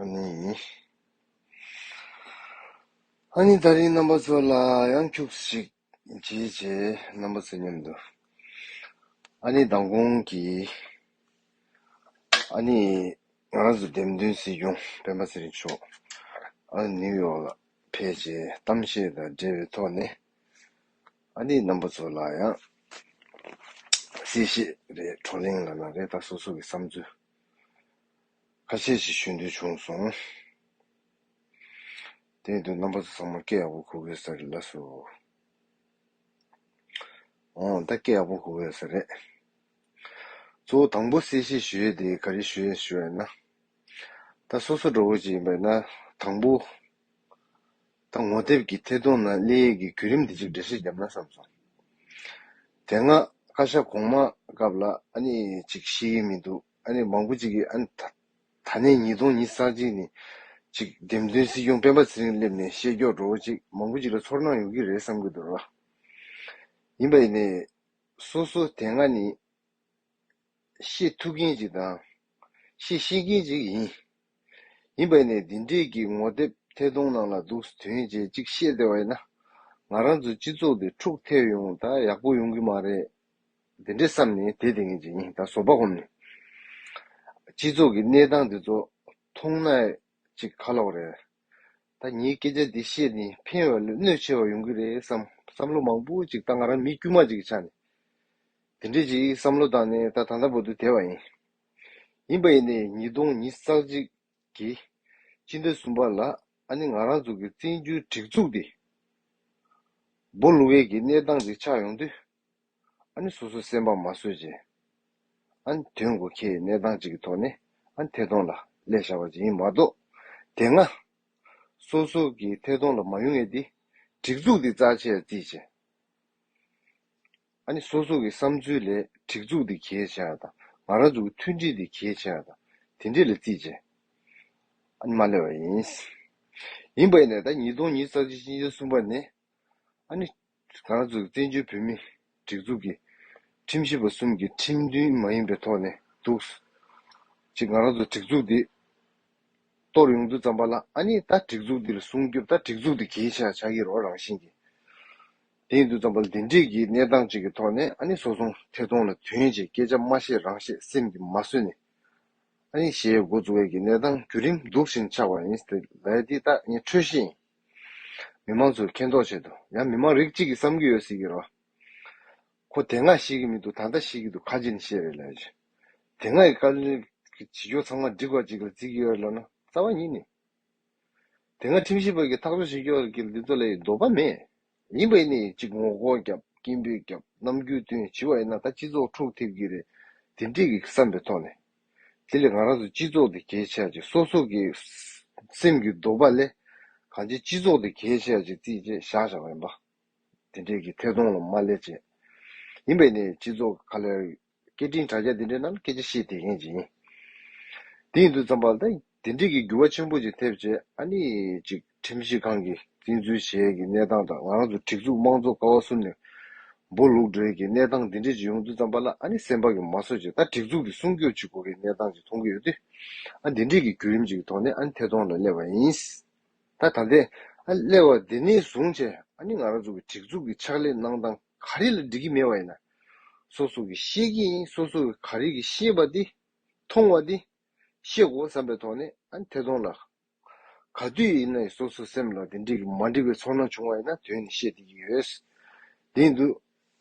ཨཱ་ནི། ད་རིང་རྣམ་པ་ཚོ་ལ་ཡང་འཁྱུགས་ཤིག། བྱས་བྱས་རྣམ་པ་ཚོ་སྙམ་དུ། ཨཱ་ནི་མདང་དགོང་གི། ཨཱ་ནི། ང་རང་ཚོ་འདེམས་ཐོན་སྲིད་སྐྱོང་སྤེན་པ་ཚེ་རིང་མཆོག་ཨཱ་ནི་ནིའུ་ཡོག་ལ་ཕེབས་རྗེས་གཏམ་བཤད་དང་འབྲེལ་བའི་ཐོག་ནས་ཨཱ་ནི་རྣམ་པ་ཚོ་ལ་ཡང་གསལ་བཤད་རེ་བགྲོ་གླེང་ལ་ན་རེ་ད་སོ་སོ་གི་བསམ་ཚུལ། ཁ་ཤས་ཤིག་ཞུ་འདོད་བྱུང་སོང། དེ་ཡིན་དུས་རྣམ་པ་ཚོ་ཚང་མ་སྐད་ཡག་པོ་གོ་དགོས་ས་རེད་ལགས་སོ། འོང་ད་སྐད་ཡག་པོ་གོ་དགོས་ས་རེད། གཙོ་བོ་དང་པོ་གསལ་བཤད་ཞུ་ཡས་དེ་ག་རེ་ཞུ་ཡས་ཞུ་ཡས་ན། ད་སོ་སོ་འགྲོ་བོ་ཅིག་ཡིན་པས་ན་དང་པོ། ད་ངོ་དེབ་ཀྱི་ཐད་གཏོང་ན་གླེ་ཡས་ཀྱི་གུ་རིམ་དེ་ཅིག་འགྲེལ་བཤད་བརྒྱབ་ན་བསམ་སོང། དེ་སྔ་བཀའ་ཤག་གོང་མ་སྐབས་ལ་ཨ་ནི་ཅིག་ཤེས་ཀྱི་མི་འདུག། ཨ་ནི་མང་པོ་ཅིག་གིས་ཨ་ནི་ད། ད་ནས་ཉིས་སྟོང་ཉིས་བརྩེགས་གཅིག་ནི། ཅིག། འདེམས་ཐོན་སྲིད་སྐྱོང་སྤེན་པ་ཚེ་རིང་སླེབས་ནས་བཤད་སྐྱོག་འགྲོ་བོ་ཅིག་མང་པོ་ཅིག་ལ་ཚོར་སྣང་ཡོང་གི་རེད་བསམ་གྱི་འདུག་ལ། ཡིན་པ་ཡིན་ནས། སོ་སོ་དེ་སྔ་ནི། ཤེས་ཐུབ་མཁན་ཅིག་དང། ཤེས་ཤེས་མཁན་ཅིག་ཡིན། ཡིན་པ་ཡིན་ནས་འདི་འདྲས་ཀྱི་ངོ་དེབ་ཐད་གཏོང་ནང་ལ་འདུག་ཟེར་དོན་ཅན་ཅིག་བཤད་བདེ་བ་ཡིན་ན། ང་རང་ཚོའི་སྤྱི་ཚོགས་འདི་འཁྲུག་ཐེབས་ཡོང་ད་ཡག་པོ་ཡོང་གི་མ་རེད། འདི་འདྲའི་བསམ་ནས་དེ་དེ་ངེས་ཅན་ཡིན་ད་བཟོ་པ་ཧོམ་ནས། སྤྱི་ཚོགས་ཀྱི་གནས་སྟངས་འདི་ཚོ་མཐོང་ན་ཅིག་ཁ་ལོག་རེད། ད་ངས་སྐད་ཆ་འདི་བཤད་ནས་ཕན་བ་ལས་གནོད་ཆེ་བ་ཡོང་གི་རེད་བསམ་བསམ་བློ་མང་པོ་ཅིག་ད་ང་རང་མི་དཀྱུས་མ་ཅིག་གི་ཆ་ནས་དེ་འདྲའི་ཅིག་བསམ་བློ་བཏང་ནས་ད་ད་ལྟ་བོ་དུ་དེ་བ་ཡིན། ཡིན་པ་ཡིན་ནས་ཉིས་སྟོང་ཉིས་བརྩེགས་གཅིག་གི་སྤྱི་ཟླ་གསུམ་པ་ལ་ཨ་ནེ་ང་རང་ཚོ་གི་བཙན་བྱོལ་སྒྲིག་འཛུགས་འདི་འབོ་ལུང་བས་ཀྱི་གནས་སྟངས་འདི་ཆགས་ཡོང་དུས། ཨ་ནི་སོ་སོ་སེམས་པ་མ་བཟོད་ཅིང། ཨ་ནི་དོན་དགུ་ཁྱེད་ཡི་གནས་སྟངས་གཅིག་གི་ཐོག་ནས་ཨ་ནི་ཐད་གཏོང་ལ་ལས་བཞག་པ་ཅིག་ཡིན་མ་གཏོགས། དེ་སྔ། སོ་སོ་གི་ཐད་གཏོང་ལ་མ་ཡོང་ངེས་ཏེ། སྒྲིག་འཛུགས་འདི་རྩ་ཆེར་རྩིས་ཆེ། ཨ་ནི་སོ་སོ་གི་བསམ་ཚུལ་ལས་སྒྲིག་འཛུགས་འདི་གལ་ཆེ་ཡང་དང་ང་རང་ཚོ་གི་མཐུན་སྒྲིལ་འདི་གལ་ཆེ་ཡང་དང་དེ་འདྲས་ལ་རྩིས་ཆེ། ཨ་ནི་མ་ལས་བ་ཡིན། ཡིན་པས་ནས་ད་ཉིས་སྟོང་ཉིས་བརྩ་གཅིག་གཅིག་གཅིག་གསུམ་པ་ནས་ཨ་ནི། གངས་བཙུགས་བཙན་བྱོལ་བོད་མིའི་སྒྲིག་འཛུགས་ཀྱི་ཁྲིམས་ཞིབ་པ་གསུམ་གྱི་ཁྲིམས་མཐུན་མ་ཡིན་པའི་ཐོག་ནས་འདུག། གཅིག་ང་རང་ཚོ་སྒྲིག་འཛུགས་འདི་གཏོར་ཡོང་དུས་བརྩམས་པ་ལ་ཨ་ནི་ད་སྒྲིག་འཛུགས་འདི་ལ་སྲུང་སྐྱོབ་ད་སྒྲིག་འཛུགས་འདི་གྱིས་ཆགས་ཆགས་ཀྱི་རོགས་རང་བཞིན་གྱི་དེ་ཡིན་དུས་བརྩམས་པ་ལ་འདི་འདྲིས་ཀྱི་གནས་སྟངས་གཅིག་གི་ཐོག་ནས་ཨ་ནི་སོ་སྲུང་ཐད་གཏོང་ལ་དོན་ཆེ་སྐད་ཆ་མ་བཤད་རང་བཤད་སེམས་ཀྱི་མ་བཟོད་ནས་ཨ་ནི་ཞེས་འགོ་བཙུགས་འོས་ཀྱི་གནས་སྟངས་བརྒྱུད་རིམ་སྡུག་ཞིང་ཆགས་པ་ཡིན་ལ་འདི་ད་ངས་འཕྲོད་བཞིན། མི་མང་ཚོས་མཁྱེན་རྟོགས་བྱེད་དོ། ཡང་མི་མང་རིགས་གཅིག་གིས་བསམ་གྱི་ཡོད་སྲིད་གི་རོ། ཁོ་དེ་སྔ་ཤེས་ཀྱི་མི་འདུག་ད་ལྟ་ཤེས་ཀྱི་འདུག་ཁ་ཇི་ནས་ཤེས་རེད་ལབ། དེ་སྔ་ཡི་བཀའ་བློན་གྱི་བྱེད་ཕྱོགས་ཚང་མ་འགྲིག་པ་ཅིག་ལ་བརྩི་གི་ཡོད་ལབ་ན་རྩ་བ་ཉིད་ནས། དེ་སྔ་ཁྲིམས་ཞིབ་པ་གྱི་ཐག་གཅོད་བྱེད་ཕྱོགས་ཀྱི་འདི་ཚོ་ལ་ཡི་འདོད་པ་མེད། ཉིན་པའི་ནི་གཅིག་ངོ་སྒོང་བརྒྱབ་སྐྱིན་པོས་བརྒྱབ་ནམ་རྒྱུན་བསྟུན་བྱིས་བ་ཡིན་ན་ད་སྤྱི་ཚོགས་འཁྲུག་ཐེབས་ཀྱི་རེད་དེ་འདྲིས་ཀྱི་བསམ་པའི་ཐོག་ནས་དེ་ལས་ང་རང་ཚོ་སྤྱི་ཚོགས་དེ་གས་ཆགས་ཅིག་སོ་སོ་གི་སེམས་ཀྱི་འདོད་པ་ལས་གང་ཅི་སྤྱི་ཚོགས་དེ་གས་ཆགས་ཅིག་རྩིས་བྱས་བཞག་བཞག་ཡིན་པ་དེ་འདྲིས་ཀྱི་ཐད་གཏོང་ལ་མ་སླེབས་བྱས་ཡིན་པས་ནི་སྤྱི་ཚོགས་ག་ལེར་སྐད་འཕྲིན་དྲ་རྒྱ་འདི་འདྲའི་ནང་སྐད་ཆ་བཤད་དེ་ཡིན་ཅིག་ཡིན། དེ་ཡིན་དུས་ཙམ་པར་དེ་འདྲ་གི་འགྱུར་བ་ཆེན་པོ་ཅིག་ཐེབས་རྗེས་ཨ་ནི་ཅིག་ཁྲིམས་ཞིབ་ཁང་གིས་བཙན་འཛུལ་བྱས་ཀྱི་གནས་སྟངས་དང་ང་རང་ཚོ་སྒྲིག་འཛུགས་དམངས་གཙོ་ཀ་བ་གསུམ་ནས་སྦོ་ལུག་སྒྲོལ་གྱི་གནས་སྟངས་འདི་འདྲ་ཅིག་ཡོང་དུས་ཙམ་པར་ལ་ཨ་ནི་སེམས་པ་གི་མ་སོ་ཅིག་ད་སྒྲིག་འཛུགས་ཀྱི་སྲུང་སྐྱོབ་ཅིག་དགོས་ཀྱི་གནས་སྟངས་ཅིག་མཐོང་གི་ཡོད་དུས་ཨ་འདི་འདྲའི་གི་བརྒྱུད་རིམ་ཅིག་གི་ཐོག་ནས་ཨ་ནི་ཐད་གཏོང་ལ་སླེབས་པ་ཡིན། ད་ད་ལྟའི་ཨ་ནི་སླེབས་པ་དེ་ནས་བཟུང་བྱས་ཨ་ནི་ང་རང་ཚོ་གི་སྒྲིག་འཛུགས་ཀྱི་ཕྱག་ལས་གནང་སྟངས། ག་རེ་ལ་འགྲིག་གི་མེད་པ་ཡིན་ན། སོ་སོ་གིས་ཤེས་ཀྱི་ཡིན་སོ་སོ་གིས་ག་རེ་གིས་ཤེས་པ་དེ། མཐོང་བ་དེ། ཤེས་གོ་བསམ་པའི་ཐོག་ནས་ཨ་ཐེ་ཐོང་ལ། ག་དུས་ཡིན་ན་སོ་སོའི་སེམས་ལ་དེ་འགྲིག་གི་མ་འགྲིག་པའི་ཚོར་སྣང་བྱུང་བ་ཡིན་ན་དོན་ནི་ཤེས་ཐིག་གི་ཡོད། དེ་འདུག་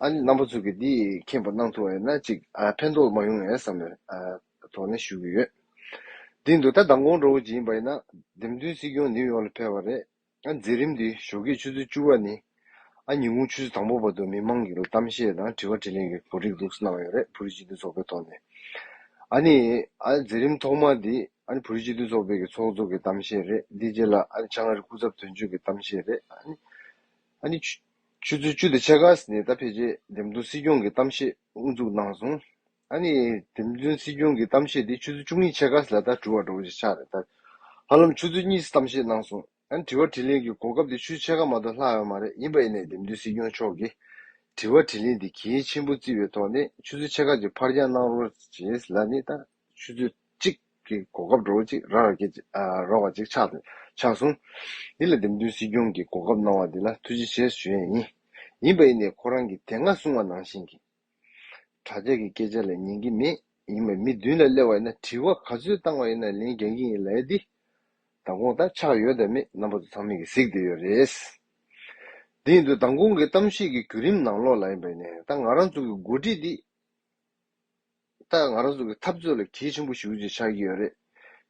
ཨ་ནི་རྣམ་པ་ཚུགས་ཀྱི་དེ་མཁྱེན་པ་གནང་ཐུབ་བ་ཡིན་ན་ཅིག་ཕན་ཐོགས་མ་ཡོང་ངས་བསམ་ནས་ཐོག་ནས་ཞུ་གི་ཡོད། དེ་འདུག་ད་མདང་དགོང་འགྲོ་བ་ཅིག་ཡིན་པ་ཡིན་ན། འདེམས་ཐོན་སྲིད་སྐྱོང་ནིའུ་ཡོག་ལ་ཕེབས་པ་རེད། ཨ་འཛིན་རིམ་དུས་ཞོགས་ཀྱི་ཆུ་ཚོད་བཅུ་བ་ནི་ཨ་ཉིན་གུང་ཆུ་ཚོད་དང་པོ་བར་དུ་མི་མང་གི་གཏམ་བཤད་དང་དྲི་བ་དྲིས་ལན་གྱི་གོ་སྒྲིག་ལུགས་སུ་གནང་ཡོད་རེད་བོད་རིགས་སྤྱི་མཐུན་ཚོགས་པའི་ཐོག་ནས་ཨ་ནི་ཨ་འཛིན་རིམ་ཐོག་མ་དེ་ཨ་ནི་བོད་རིགས་སྤྱི་མཐུན་ཚོགས་པའི་གི་ཚོགས་གཙོ་གི་གཏམ་བཤད་རེད་དེའི་རྗེས་ལ་ཨ་ནི་ཆང་ཨ་རི་སྐུ་ཚབ་དོན་གཅོད་ཀྱི་གཏམ་བཤད་རེད་ཨ་ནི་ཨ་ནི་ཆུ་ཆུ་ཚོད་བཅུ་དང་ཕྱེད་ཀ་ནས་ད་ཕེབས་རྗེས་འདེམས་ཐོན་སྲིད་སྐྱོང་གི་གཏམ་བཤད་དབུ་འཛུགས་གནང་སོང། ཨཱ་ནི། དེ་བདུན་སྲིད་སྐྱོང་གི་གཏམ་བཤད་དེ་ཆུ་ཚོད་བཅུ་གཉིས་ཆད་ཁ་སི་ལ་ད་དྲུ་བར་འགྲོ་བཞིན་ཆགས་རེད་ད། ཧ་ལམ་ཆུ་ཚོད་གཉིས་སི་གཏམ་བཤད་གནང་སོང། ཨཱ་ནི་དྲི་བ་དྲི་ལན་གི་གོ་སྐབས་དེ་ཆུ་ཆད་ཁ་མ་གཏོགས་ལྷག་ཡོད་མ་རེད་ཡིན་པ་ཨེ་ནས་དེ་བདུན་སྲིད་སྐྱོང་མཆོག་གིས། དྲི་བ་དྲི་ལན་དེ་གལ་ཆེན་པོ་བརྩི་བའི་ཐོག་ནས་ཆུ་ཚོད་ཆད་ཁ་གི་འཕར་འགྱངས་གནང་རོགས་བྱེད་སི་ལ་ནི་ད། ཆུ་ཚོད་གཅིག་གི་གོ་སྐབས་འགྲོ་བ་གཅིག་རག་རེད་ཀྱི་རོགས་བ་ཅིག་ཆགས་ཆགས་སོང། འདི་ལ་དེ་བདུན་སྲིད་སྐྱོང་གིས་གོ་སྐབས་གནང་བ་འདི་ལ་ཐུགས་རྗེ་ཆེ་ཞུ་ཡས་ཡིན། ཡིན་པ་ཨེ་ནས་ཁོ་རང་གིས་དེ་སྔ་གསུང་བ་ནང་བཞིན་གྱི། གྲྭ་ཅག་གི་སྐད་ཆ་ལ་ཉན་གྱི་མེད། ཡིན་ཡང་མི་བདུན་ལ་གླེང་བ་ཡིན་ན་དྲི་བ་ག་ཚོད་བཏང་བ་ཡིན་ན་ལན་རྒྱག་གི་ཡིན་ལས་འདི་མདང་དགོང་ལྟར་ཆགས་ཡོད་དམ་མེད་རྣམ་པ་ཚོ་ཚང་མས་ཀྱིས་གཟིགས་བསྡད་ཡོད་རེད། དེ་ཡིན་དུས་མདང་དགོང་གི་གཏམ་བཤད་ཀྱི་བརྒྱུད་རིམ་ནང་ལོགས་ལ་ཡིན་པ་ཡིན་ནའི་ད་ང་རང་ཚོ་གི་འགོ་ཁྲིད་འདི་ད་ང་རང་ཚོ་གི་འཐབ་རྩོད་ལ་གལ་ཆེན་པོ་ཞིག་ཅིག་ཆགས་ཀྱི་ཡོད་རེད།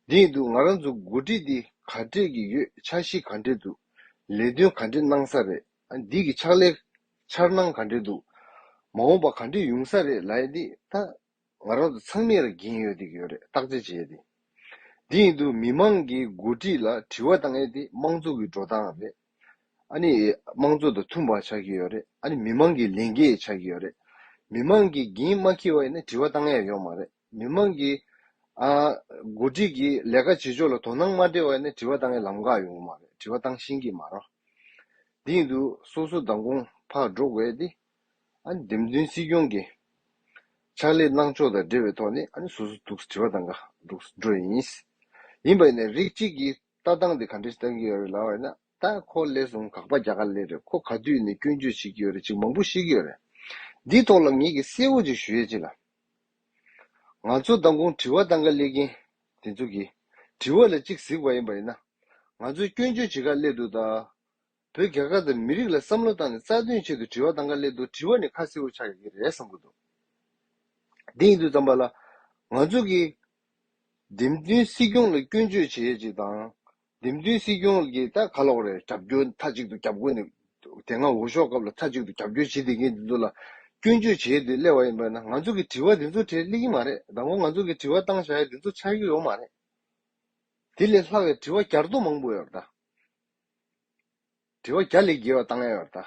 དེ་ཡིན་དུས་ང་རང་ཚོ་གི་འགོ་ཁྲིད་འདི་ག་འདྲས་ཀྱི་ཡོད་ཆགས་གཞི་ག་འདྲས་འདུག་ལས་དོན་ག་འདྲས་གནང་ས་རེད། འདི་གི་ཕྱག་ལས། འཆར་སྣང་ག་འདྲེ་འདུག། མ་འོངས་པ་ག་འདྲེ་ཡུང་ས་རེད་ལ་ཡེ་འདི་ད། ང་རང་ཚོ་ཚང་མས་ར་གིན་ཡོད་འདི་གི་ཡོད་རེད་བརྟག་དཔྱད་བྱེད་ཡེ་འདི། འདི་ཡིན་འདུག་མི་མང་གི་འགོ་ཁྲིད་ལ་དྲི་བ་བཏང་ཡེ་འདི་དམངས་གཙོ་གི་འགྲོ་སྟངས་རེད། ཨ་ནི་དམངས་གཙོ་དང་མཐུན་པ་ཆགས་ཀྱི་ཡོད་རེད་ཨ་ནི་མི་མང་གི་ལས་འགན་ཡེ་ཆགས་ཀྱི་ཡོད་རེད། མི་མང་གི་འགན་མ་འཁྱེར་བ་ཡེ་ན་དྲི་བ་བཏང་ཡེ་ཡོད་མ་རེད། མི་དམངས་ཀྱི། མགོ་ཁྲིད་ཀྱི་ལས་ཀ་བྱེད་ཕྱོགས་ལ་དོ་སྣང་མ་འདྲེས་བ་ནི་དྲི་བ་བཏང་ཡས་ལམ་འགག་ཡོང་གི་མ་རེད་དྲི་བ་བཏང་ཤིང་གི་མ་རོ། དེ་ཡིན་དུ་སོ་སོ་མདང་དགོང་ཕག་འགྲོ་དགོས་ཏེ། འདེམས་ཐོན་སྲིད་སྐྱོང་གི་ཕྱག་ལས་གནང་ཕྱོགས་དང་འབྲེལ་བའི་ཐོག་ནས་སོ་སོ་འདུག་སྲིད་བ་དང་འགའ་འདུག་འགྲོ་ཡིན། ཡིན་པ་ནས་རིགས་གཅིག་གི་ལྟ་སྟངས་དེ་ག་འདྲས་བསྟན་གྱི་ཡོད་རེད་ལབ་ན། ད་ཁོ་སླེབས་སོང་གག་པ་རྒྱ་གར་ལས་རེད་ཁོ་ག་དུས་ནས་སྐྱོན་བརྗོད་བྱེད་ཀྱི་ཡོད་རེད་ཅིག་མང་པོ་ཤེས་ཀྱི་ཡོད་རེད། འདིའི་ཐོག་ལ་ངེད་ཀྱིས་གསལ་བོ་ཅིག་ཞུ་ཡས་ཅིག་ལ། ང་ཚོ་མདང་དགོང་དྲི་བ་བཏང་ག་སླེབས་མཁན་དེ་ཚོ་གིས་དྲི་བ་ལ་ཅིག་གཟིགས་པ་ཡིན་པ་ཡིན་ན། ང་ཚོས་སྐྱོན་བརྗོད་བྱེད་ག་སླེབས་འདུག་ད། བོད་རྒྱ་གར་དང་མི་རིགས་ལ་བསམ་བློ་བཏང་ནས་རྩ་དོན་ཆེད་དུ་དྲི་བ་གཏང་ག་སླད་དུ་དྲི་བ་ནི་ཁ་སེར་བོ་ཆགས་ཡོད་ཀྱི་རེད་བསམ་གྱི་འདུག་དེ་ཡིན་དུས་བརྩམས་པ་ལ། ང་ཚོ་གིས། འགྲེམས་སྟོན་སྲིད་སྐྱོང་ལ་སྐྱོན་བརྗོད་བྱེད་ཡས་ཅིག་དང། འགྲེམས་སྟོན་སྲིད་སྐྱོང་གིས་ད་ག་ལོག་རེད་རྒྱབ་སྐྱོར་མཐའ་གཅིག་ཏུ་རྒྱབ་དགོས་ནི། དེ་སྔ་འོས་ཤོག་སྐབས་ལ་མཐའ་གཅིག་ཏུ་རྒྱབ་སྐྱོར་བྱེད་བསྡད་མཁན་དེ་ཚོ་ལ་སྐྱོན་བརྗོད་བྱེད་ཡས་དུས་སླེ་བ་ཡིན་པས་ན་ང་ཚོ་གིས་དྲི་བ་དེ་ཚོ་དྲས་སླེ་གྱི་མ་རེད་ད་གོ་ང་ཚོ་གིས་དྲི་བ་བཏང་བཞག་ཡས་དེ་ཚོ་ཆགས་ཀྱི་ཡོད་མ་རེད། དེ་ལས་ལྷག་ཡས་དྲི་བ་བསྐྱར་ཟློ་མང་པོ་ཡོད་རེད་ད། དྲི་བ་བརྒྱ་ལས་བརྒལ་བ་བཏང་ཡོད་པར་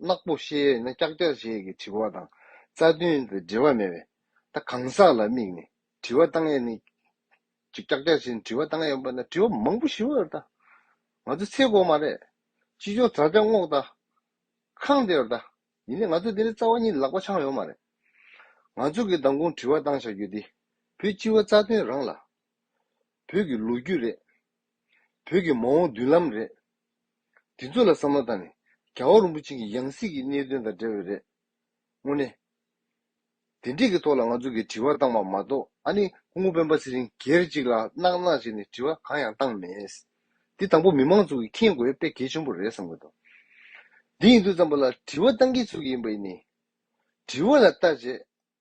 བལྟ། ནག་པོ་ཤེས་ཡོད་ན་ཀྱག་ཀྱག་བྱེད་ཀྱི་དྲི་བ་དང་རྩ་མཐུན་དང་འབྲེལ་བ་མེད་པས་ད་གང་ཟག་ལ་དམིགས་ནས་དྲི་བ་བཏང་ཡོད་ནི། ཀྱག་ཀྱག་བྱས་ནས་དྲི་བ་བཏང་ཡོད་པ་ན་དྲི་བ་མང་པོ་ཞུ་བར་བལྟ། ང་ཚོ་ཚེ་གོག་མ་རེད། ཅི་ལྕོགས་དྲ་རྒྱ་སྔོག་བལྟ། ཁང་བདེ་བར་བལྟ། ཡིན་ནའི་ང་ཚོ་འདི་ནས་རྩ་བ་གཉིས་ལག་པ་འཆང་ཡོང་མ་རེད། ང་ཚོ་གི་མདང་དགོང་དྲི་བ་བཏང་བྱ་རྒྱུ་འདི་བོད་སྤྱི་བ་རྩ་དོན་རང་ལ་བོད་ཀྱི་ལོ་རྒྱུས་རེད། བོད་ཀྱི་མ་འོངས་མདུན་ལམ་རེད། དེ་ཚོ་ལ་བསམ་བློ་བཏང་ནས་རྒྱ་བ་རིན་པོ་ཆེ་གི་ཡང་སྲིད་ཀྱི་གནད་དོན་དང་འབྲེལ་བའི་རེད། དངོས་གནས། དེ་འདྲས་ཀྱི་ཐོག་ལ་ང་ཚོ་གིས་དྲི་བ་བཏང་བ་མ་གཏོགས་ཨ་ནི་ཁོང་སྤེན་པ་ཚེ་རིང་སྒེར་གཅིག་ལ་གནག་གནག་བྱས་ནས་དྲི་བ་གང་ཡང་བཏང་མེད། འདི་དང་པོ་མི་མང་ཚོ་གིས་མཁྱེན་དགོས་དཔེ་གལ་ཆེན་པོ་རེད་བསམ་དགོས་དོན་འདི་ཡིན་དུས་བསམ་པ་ལ་དྲི་བ་བཏང་མཁན་སུ་ཡིན་པ་ཡིན་ནི། དྲི་བ་ལ་བལྟ་བྱེད་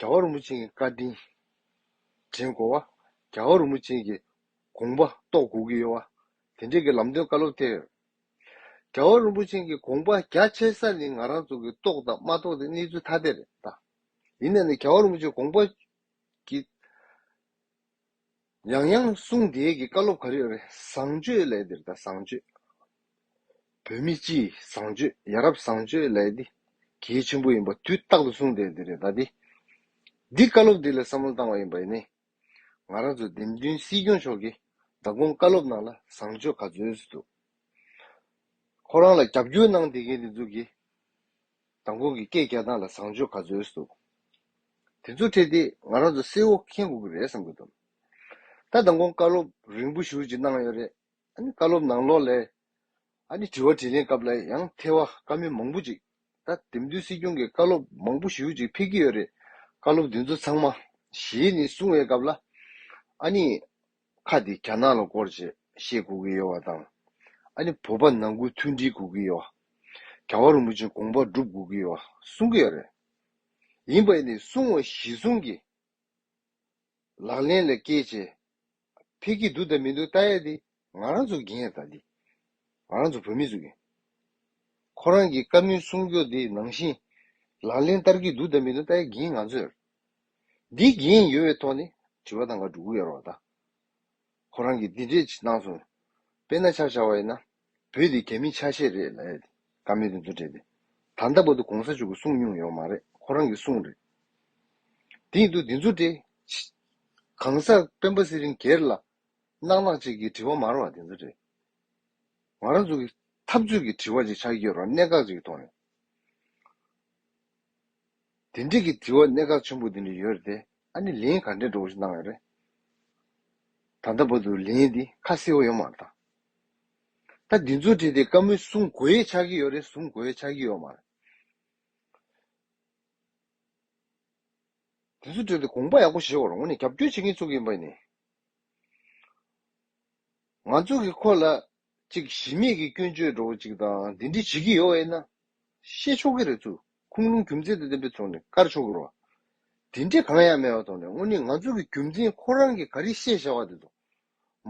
རྒྱ་གར་རིན་པོ་ཆེན་གྱི་བཀའ་དྲིན་དྲན་གོ། རྒྱ་གར་རིན་པོ་ཆེན་གྱི་དགོངས་པ་རྟོགས་དགོས་ཀྱི་ཡོད། དེ་འབྲེལ་གྱི་ལམ་སྟོན་བཀའ་སློབ་ཐེངས། རྒྱ་གར་རིན་པོ་ཆེན་གྱི་དགོངས་པ་རྒྱ་ཆེ་ས་ནི་ང་རང་ཚོ་གིས་རྟོགས་དང་མ་རྟོགས་ཀྱི་གནས་ཚུལ་ཐ་དད་རེད། ཡིན་ན་ནི་རྒྱ་གར་རིན་པོ་ཆེན་གི་དགོངས་པ་གྱི། ཡང་ཡང་གསུང་བདེ་གི་བཀའ་སློབ་ག་རེ་ཡོད་རེད་བཟང་སྤྱོད་ལས་འདིར་ད་བཟང་སྤྱོད། བོད་མི་སྤྱི་བཟང་སྤྱོད་ཡ་རབས་བཟང་སྤྱོད་ལས་འདི་གལ་ཆེན་པོ་ཡིན་པ་དུས་རྟག་ཏུ་གསུང་བདེ་འདི་རེད་ད་འདི་འདི་བཀའ་སློབ་འདི་ལ་བསམ་བློ་བཏང་བ་ཡིན་པ་ཡིན་ནི་ང་རང་ཚོ་འདེམས་མདུན་སྲིད་སྐྱོང་མཆོག་གིས་ད་དགོང་བཀའ་སློབ་ནང་ལ་བཟང་སྤྱོད་ག་ཚོད་འདུག་ཁོ་རང་ལ་རྒྱབ་སྐྱོར་གནང་བདེ་གལ་འདི་ཚོ་གི། མདང་དགོང་གི་སྐད་བརྒྱ་སྟངས་ལ་བཟང་སྤྱོད་ག་ཚོད་འདུག། དེ་ཚོ་འཕྲད་དེ་ང་རང་ཚོ་བསེ་བོ་མཁྱེན་དགོས་ཀྱི་རེད་བསམ་གྱི་འདུག། ད་མདང་དགོང་བཀའ་སློབ་རིང་པོ་ཞུ་ཅིག་གནང་ཡོད་རེད། ཨ་ནི་བཀའ་སློབ་ནང་ལོགས་ལས། ཨ་ནི་དྲི་བ་དྲིས་ལན་སྐབས་ལ་ཡང་ཐེ་བ་དཀའ་མི་མང་པོ་ཅིག་ད་དེབ་མདུན་སྲིད་སྐྱོང་གི་བཀའ་སློབ་མང་པོ་ཞུ་ཅིག་ཕེབས་ཀྱི་ཡོད་རེད་བཀའ་སློབ་དེ་ཚོ་ཚང་མ་གཞིས་ནས་གསུང་བའི་སྐབས་ལ་ཨ་ནི། ཁ་དེ་ག་ནག་ལ་བསྐོར་རྗེས་ཤེས་དགོས་ཀྱི་ཡོད་བ་དང། ཨ་ནི་བོད་པ་ནང་ཁུལ་མཐུན་སྒྲིལ་དགོས་ཀྱི་ཡོད་བ། ག་བ་རིན་པོ་ཆེ་དགོངས་པ་བསྒྲུབ་དགོས་ཀྱི་ཡོད་བ་གསུང་གི་ཡོད་རེད། ཡིན་པ་ནི་གསུང་བ་གཞི་བཟུང་གིས་ལག་ལེན་ལ་བཀལ་བྱས་ཕེབས་ཀྱི་འདུག་དང་མི་འདུག་ལྟ་ཡ་དེ་ང་རང་ཚོ་གིན་ཡ་ད་དེ་ང་རང་ཚོ་བོད་མི་ཚོ་གིན། ཁོ་རང་གི་བཀའ་མོལ་གསུང་ཕྱོགས་དེ་ནང་བཞིན་ལག་ལེན་བསྟར་གྱི་འདུག་དང་མི་འདུག་ལྟ་ཡ་གིན་ང་ཚོས། འདི་བགྱིས་ཡིན་ཡོད་པའི་ཐོག་ནས་དྲི་བ་དང་ག་དྲུག་གཡོལ་རོགས་དང། ཁོ་རང་གིས་འདི་འདྲས་གནང་སོང་དཔེ་ན་ཆ་བཞག་པ་ཡིན་ན་བོད་འདི་རྒྱ་མི་ཆ་ཤས་རེད་ལ་ཡ་དེ་ཀ་མེད་དུ་འདུ་བྲལ་ཏེ་ད་ལྟ་བར་དུ་གོང་ས་མཆོག་གི་གསུང་མྱོང་ཡོག་མ་རེད་ཁོ་རང་གི་གསུང་རེད་དེ་ཡིན་དུ་འདི་ཚོ་འདྲས་གང་ཟག་སྤེན་པ་སི་རིན་གེར་ལ་གནག་གནག་ཅིག་གིས་དྲི་བ་མར་བ་དེ་ཚོ་འདྲས་ང་རང་ཚོ་གི་འཐབ་རྩོད་ཀྱི་དྲི་བ་ཅིག་ཆགས་ཀྱི་ཡོད་རང་གནད་འགག་ཅིག་གི་ཐོག་ནས། དེ་འགྲིག་གི་དྲི་བ་གནད་འགག་ཆེན་པོ་འདི་ནས་ཡོད་རེད་དེ་ཨ་ནི་ལན་ག་འདྲའི་འགྲོ་བ་ཞིག་གནང་ཡོད་རེད་ད་ལྟ་བར་དུ་ལན་འདི་ཁ་གསལ་བོ་ཡོད་མ་རེད་ད་ད་འདི་ཚོ་བྲིས་ཏེ་བཀའ་མོལ་གསུང་དགོས་ཡས་ཆགས་ཀྱི་ཡོད་རེད་གསུང་དགོས་ཡས་ཆགས་ཀྱི་ཡོད་མ་རེད་དེ་ཚོ་བྲིས་ཏེ་དགོངས་པ་ཡག་པོ་བཞེས་བར་ངོ་ནས་རྒྱབ་སྐྱོར་བྱེད་མཁན་ཚོ་གི་ཡིན་པ་ནི་ང་ཚོ་གི་ཁོ་ལ་གཅིག་གཞི་མེད་ཀྱི་སྐྱོན་བརྗོད་འགྲོ་བ་ཅིག་དང་འདི་འདྲི་བྱེད་ཀྱི་ཡོད་ཨེ་ན། ཤེས་ཆོག་གི་རེད་ཚུལ་ཁུངས་ལུང་རྒྱུ་མཚན་དང་ལྡན་པའི་ཐོག་ནས་བཀར་ཆོག་གི་རེད། དེ་འདྲི་གང་ཡང་མེད་པ་ཐོག་ནས་དངོས་གནས་ང་ཚོ་གི་རྒྱུ་མཚན་ཁོ་རང་གི་ག་རེ་ཤེས་བྱ་བ་དེ་ཚོ་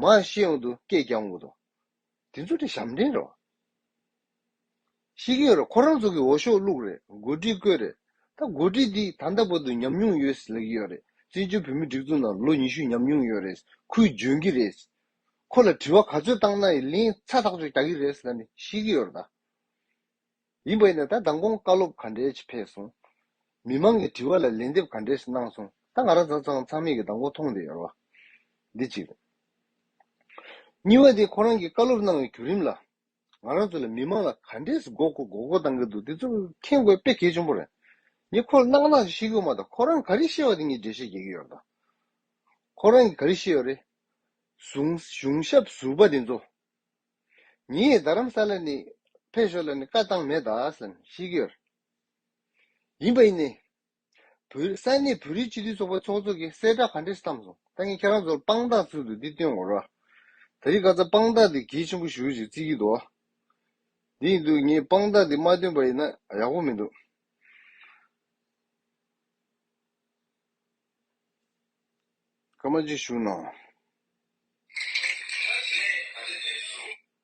མ་ཤེས་ཡོང་དུ་སྐད་རྒྱག་འོང་གི་འདུག་དེ་ཚོ་དེ་ཞབས་འདྲེན་རེད། ཞིག་ཡོད་རེད་ཁོ་རང་ཚོ་གི་འོ་ཤོག་བླུགས་རེད་མགོ་སྒྲིག་བསྐོས་རེད་ད་མགོ་སྒྲིག་འདི་ད་ལྟ་བར་དུ་ཉམས་མྱོང་ཡོད་ལེགས་ཡོད་རེད་བཙན་བྱོལ་བོད་མི་སྒྲིག་འཛུགས་ནང་ལོ་ཉི་ཤུ་ཉམས་མྱོང་ཡོད་རེད་ཁོས་འཇོན་གི་རེད་ཁོ་ལ་དྲི་བ་ག་ཚོད་བཏང་ན་ཡི་ལིང་ཚ་ཐག་ཆོད་རྒྱག་གི་རེད་ད་ནི་ཞིག་ཡོད་རེད་ད། ཡིན་པ་ཡིན་ན་ད་མདང་དགོང་བཀའ་སློབ་ག་འདྲའི་ཕྱིས་ཕེབས་སོང། མི་མང་གི་དྲི་བ་ལ་ལན་འདེབས་ག་འདྲའི་ཕྱིས་གནང་སོང་ད་ང་རང་ཚང་ཚང་ཚང་མིག་གི་མདང་དགོང་མཐོང་བསྡད་ཡོད་རེད་འདི་གཅིག་རེད། གཉིས་པ་དེ་ཁོ་རང་གི་བཀའ་སློབ་གནང་བའི་བརྒྱུད་རིམ་ལ། ང་རང་ཚོ་ལ་མི་མང་ལ་ག་འདྲས་སུ་མགོ་སྐོར་མགོ་སྐོར་གཏང་གི་འདུག་དེ་ཚོ་མཁྱེན་དགོས་དཔེ་གལ་ཆེན་པོ་རེད། ངས་ཁོ་ལ་གནག་གནག་ཅིག་ཤེས་ཁུལ་མ་གཏོགས་ཁོ་རང་ག་རེ་ཤེས་བ་དེ་ངས་འགྲེལ་བཤད་བརྒྱག་གི་ཡོད། ཁོ་རང་གིས་ག་རེ་ཤེས་ཡོད་རེད། གཞུང་གཞུང་ཞབས་ཟུར་པ་དེ་ཚོ། ངས་རྡ་རམ་ས་ལ་ནས་ཕེབས་ཞོར་ལ་ནས་བཀའ་བཏང་མེད་ད་བསམ་ཤེས་ཀྱི་ཡོད། ཡིན་པ་ཡིན་ནས། བོད་ས་གནས་བོད་རིགས་སྤྱི་འཐུས་ཚོགས་པ་ཚོགས་གཙོ་གིས་གསལ་བསྒྲགས་ག་འདྲས་བཏང་སོང་ད་ངས་ཁྱེད་རང་ཚོར་དཔང་རྟགས་ཚུལ་དུ་འདི་སྟོན་འོར། ད་རིག་ག་ཚ་དཔང་རྟགས་འདི་གལ་ཆེན་པོ་ཞུ་ཞེས་རྩིས་ཀྱི་འདུག་འདི་ཡིན་དུས་ངས་དཔང་རྟགས་འདི་མ་སྟོན་པ་ཡིན་ན་ཡག་པོ་མི་འདུག། སྐར་མ་གཅིག་བཞུགས་གནང།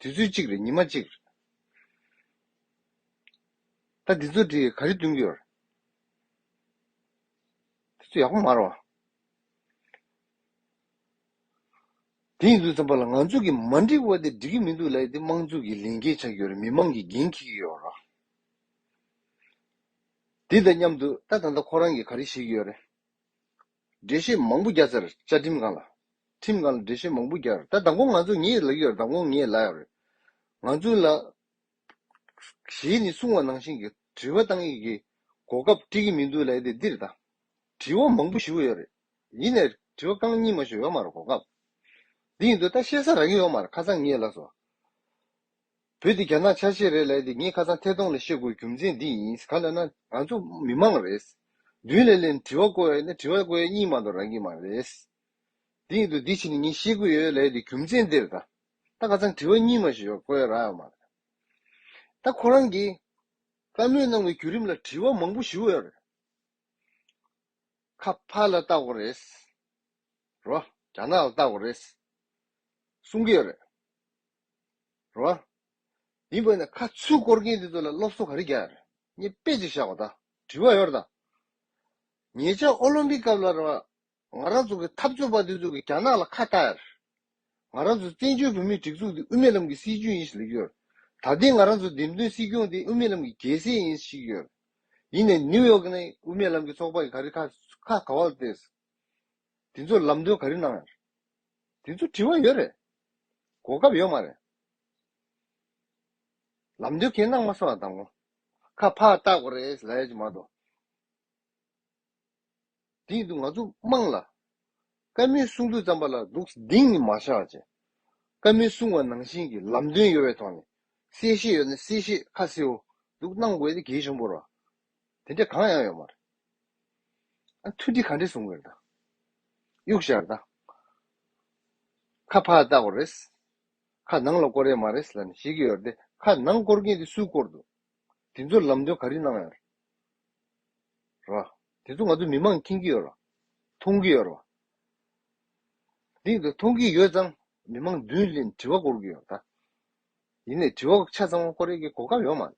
དུས་ཚོད་གཅིག་རེ་ཉི་མ་གཅིག། ད་འདི་ཚོ་འདྲིས་ག་རེ་བསྟུན་གི་ཡོད། དེ་ཚོ་ཡག་པོ་མ་རོ། དེ་ཡིན་དུས་ཙམ་པ་ལ་ང་ཚོ་གི་མ་འགྲིག་བ་དེ་འགྲིག་གི་མི་འདུག་ལས་དེ་དམངས་གཙུག་གི་ལས་འགན་ཆགས་ཀྱི་ཡོད་རེད་མི་མང་གི་འགན་འཁྱེར་གྱི་ཡོད་རེད། དེ་དང་མཉམ་དུ་ད་ད་ལྟ་ཁོ་རང་གི་ག་རེ་བྱེད་ཀྱི་ཡོད་རེད། འགྲེལ་བཤད་མང་པོ་རྒྱག་ཚར་བཅའ་ཁྲིམས་གང་ལ། ཁྲིམས་གང་ལ་འགྲེལ་བཤད་མང་པོ་རྒྱག་རེད་ད་མདང་དགོང་ང་ཚོ་ངེད་ཡོད་ལག་ཡོད་རེད་མདང་དགོང་ངེད་ཡོད་ལག་ཡོད་རེད། ང་ཚོའི་ལ། གཞས་ནི་གསུང་བ་ནང་བཞིན་གྱི་དྲི་བ་གཏང་ཡི་གི། གོ་སྐབས་སྤྲི་གི་མི་འདུག་ལ་ཡི་དེ་འདིར་ད། དྲི་བ་མང་པོ་ཞུ་གི་ཡོད་རེད། ཡིན་ནས་དྲི་བ་རྐང་གཉིས་མ་ཞུ་ཡོད་མ་རེད་གོ་སྐབས། འདི་ཡིན་དུས་ད་བཤད་ས་རག་གི་ཡོད་མ་རེད་ཁ་སང་ངེད་ལགས་སོ། བོད་འདི་རྒྱ་ནག་ཆ་ཤས་རེད་ལས་འདི་ངས་ཁ་ཚང་ཐད་གཏོང་ལས་ཤེས་དགོས་རྒྱུ་མཚན་འདི་ཡིན་ག་ལ་ན་ང་ཚོ་མི་མང་རེད་བདུན་ལས་ལས་ནི་དྲི་བ་བཀོལ་བའི་ནི་དྲི་བ་བཀོལ་ཡས་གཉིས་མ་གཏོགས་རང་གི་མ་རེད་དེ་ཡིན་དུ་འདི་བྱས་ནི་ངས་ཤེས་གི་ཡོད་ལས་འདི་རྒྱུ་མཚན་འདི་རེད་ད་ད་ཁ་ཚང་དྲི་བ་གཉིས་མ་ཞིག་བཀོལ་ཡས་རང་མ་རེད་ད་ཁོ་རང་གི་བཀའ་མོལ་གནང་བའི་བརྒྱུད་རིམ་ལ་དྲི་བ་མང་པོ་ཞུ་ཡས་རེད་ཁ་ཕ་ལ་བལྟ་དགོས་རེད་རོ་རྒྱ་ནག་ལ་བལྟ་དགོས་རེད་གསུང་གི་ཡོད་རེད། རོ། མིན་པ་ནི་ཁ་ཚུལ་བསྐོར་མཁན་དེ་ཚོ་ལ་སློབ་གསོ་ག་རེ་རྒྱག་རེད་ངས་དཔེ་གཅིག་བཞག་པ་ད་དྲི་བ་ཡོད་དམ། ཉེ་ཆར་ཨོ་ལོམ་པིག་སྐབས་ལ་རང་ང་རང་ཚོ་གི་འཐབ་རྩོད་པ་དེ་ཚོ་གིས་རྒྱ་ནག་ལ་ཁ་བཏགས་ཡར། ང་རང་ཚོ་བཙན་བྱོལ་བོད་མིའི་སྒྲིག་འཛུགས་འདི་དབུ་མེད་ལམ་གྱི་སྲིད་བྱུས་ཡིན་ཞེས་ལེགས་ཡོད། ད་ལྟའི་ང་རང་ཚོ་འདེམས་ཐོན་སྲིད་སྐྱོང་དེ་དབུ་མེད་ལམ་གྱི་རྒྱལ་སྲས་ཡིན་ཞིག་ཡོད། ཡིན་ནས་ནིའུ་ཡོག་ནས་དབུ་མེད་ལམ་གྱི་ཚོགས་པ་གི་ག་རེ་ཁ་ག་བ་ལ་བལྟས་སོ། དེ་ཚོར་ལམ་སྟོན་ག་རེ་གནང་ཡོད། དེ་ཚོ་དྲི་བ་ཡོད་རེད། གོ་སྐབས་ཡོད་མ་རེད། ལམ་སྟོན་གན་གནང་མ་སོང་ཡང་དང་གོ། ཁ་ཕག་བཏགས་པ་རེད་ལ་ཡོད་ཀྱི་མ་གཏོགས། དེ་ཡིན་དུས་ང་ཚོ་དམངས་ལ། བཀའ་མོལ་གསུང་དུས་རྩམ་པ་ལ་འདུག་གདེང་ནི་མ་བཞག་བྱས། བཀའ་མོལ་གསུང་བ་ནང་བཞིན་གྱི་ལམ་སྟོན་ཡོད་པའི་ཐོག་ནས། གསལ་བཤད་ཡོད་ན་གསལ་བཤད་ཁ་གསལ་བོ་འདུག་གནང་དགོས་ཏེ་གལ་ཆེན་པོར། དེ་འདྲ་གང་ཡང་ཡོད་མ་རེད། ཨ་མཐུ་འདི་ག་འདྲས་བཟུང་གི་རེད་ད། གཡུག་བཞག་རེད་ད། ཁ་ཕར་བལྟ་དགོས་རེད། ཁ་ནང་ལ་བསྐོར་ཡས་མ་རེད་ལ་ནི་ཤེས་ཀྱི་ཡོད་རེད་དེ། ཁ་ནང་བསྐོར་མཁན་དེ་སུས་བསྐོར་འདུག། དེ་ཚོ་ལམ་སྟོན་ག་རེ་གནང་ཡོད་ར། དེ་ཚོ་ང་ཚོ་མི་མང་མཁྱེན་གྱི་ཡོད་ར། མཐོང་གི་ཡོད་ར། དེ་ཡིན་དུ་མཐོང་གི་ཡོད་ཙང་མི་མང་མདུན་ལན་དྲི་བ་བསྐོར་གྱི་ཡོད་ར་ད། ཡིན་ནས་དྲི་བ་ཆ་ཚང་བ་ཁོ་རེ་གི་གོ་སྐབས་ཡོང་མ་སོང།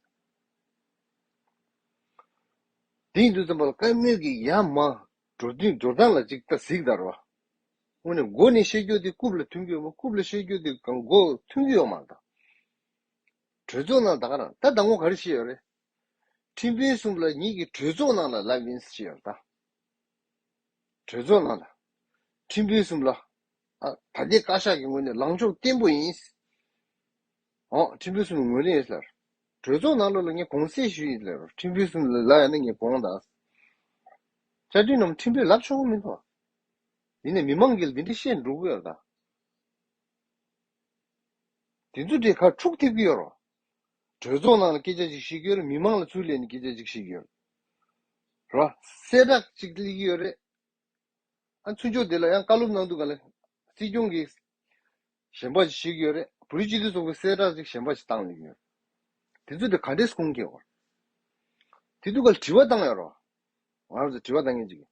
དེ་ཡིན་དུས་རྩོམ་པ་པོ་བཀའ་མོལ་གྱི་ཡ་མ་འགྲོ་དུས་འགྲོ་སྟངས་ལ་ཅིག་ལྟ་གཟིགས་དར་བ། དངོས་ནས་མགོ་ནས་བཤད་རྒྱུ་དེ་རྐུབ་ལ་ཐོན་རྒྱུ་ཡོད་མོད་རྐུབ་ལ་བཤད་རྒྱུ་དེ་གང་མགོ་ཐོན་རྒྱུ་ཡོང་མ་མཐའ། གྲོས་ཚོགས་ནང་ད་ག་རང་ད་ད་ངོ་ག་རེ་བྱེད་ཡོད་རེད། ཁྲིམས་དཔོན་གསུམ་ལ་ཉིད་ཀྱི་གྲོས་ཚོགས་ནང་ལ་ལབ་ཡིན་ཟེར་ཡོད་ད། གྲོས་ཚོགས་ནང་ལ། ཁྲིམས་དཔོན་གསུམ་ལ། ད་ད་ལྟའི་བཀའ་ཤག་གི་ངོས་ནས་ལངས་ཕྱོགས་བརྟན་པོ་ཡིན། ཨོ་ཁྲིམས་དཔོན་གསུམ་ངོས་ལེན་ལར། གྲོས་ཚོགས་ནང་ལོགས་ལ་ངས་དགོངས་སེལ་ཞུ་ཡི་ལར་ཁྲིམས་དཔོན་གསུམ་ལ་ལ་ཡང་ན་ངས་དགོངས་དག། བཅའ་ཁྲིམས་རྣམས་ཁྲིམས་དཔོན་ལབ་ཆོག་གི་མིན་ཐོ། དེ་ནས་མི་མང་གིས་འདི་འདྲ་བཤད་འགྲོ་གི་ཡོད་རེད་ད། དེ་ཚོ་དེ་ཁ་འཁྲུག་ཐེབས་ཀྱི་ཡོད་རོ། གྲོས་ཚོགས་ནང་ལ་སྐད་ཆ་ཅིག་བཤད་ཀྱི་ཡོད་རེད་མི་མང་ལ་ཚུར་ལས་ནས་སྐད་ཆ་ཅིག་བཤད་ཀྱི་ཡོད་རེད། རོ། གསལ་བསྒྲགས་ཅིག་གླེང་གི་ཡོད་རེད། ཨ་མཚོན་ཆོས་འདི་ལ་ཡང་བཀའ་སློབ་གནང་འདུག་ག་ལ། སྲིད་སྐྱོང་གི། ཞལ་འབག་ཅིག་ཞིག་ཡོད་རེད་བོད་རིགས་སྤྱི་འཐུས་ཚོགས་པའི་གསལ་བསྒྲགས་ཅིག་ཞལ་འབག་ཅིག་བཏང་ཡོད། དེ་ཚོ་དེ་ག་འདྲས་གསུང་མཁན་ཨོ། དེ་དུས་ག་ལ་དྲི་བ་བཏང་ཡོད་རོ། ང་རང་ཚོ་དྲི་བ་བཏང་མཁན་ཅིག་གི།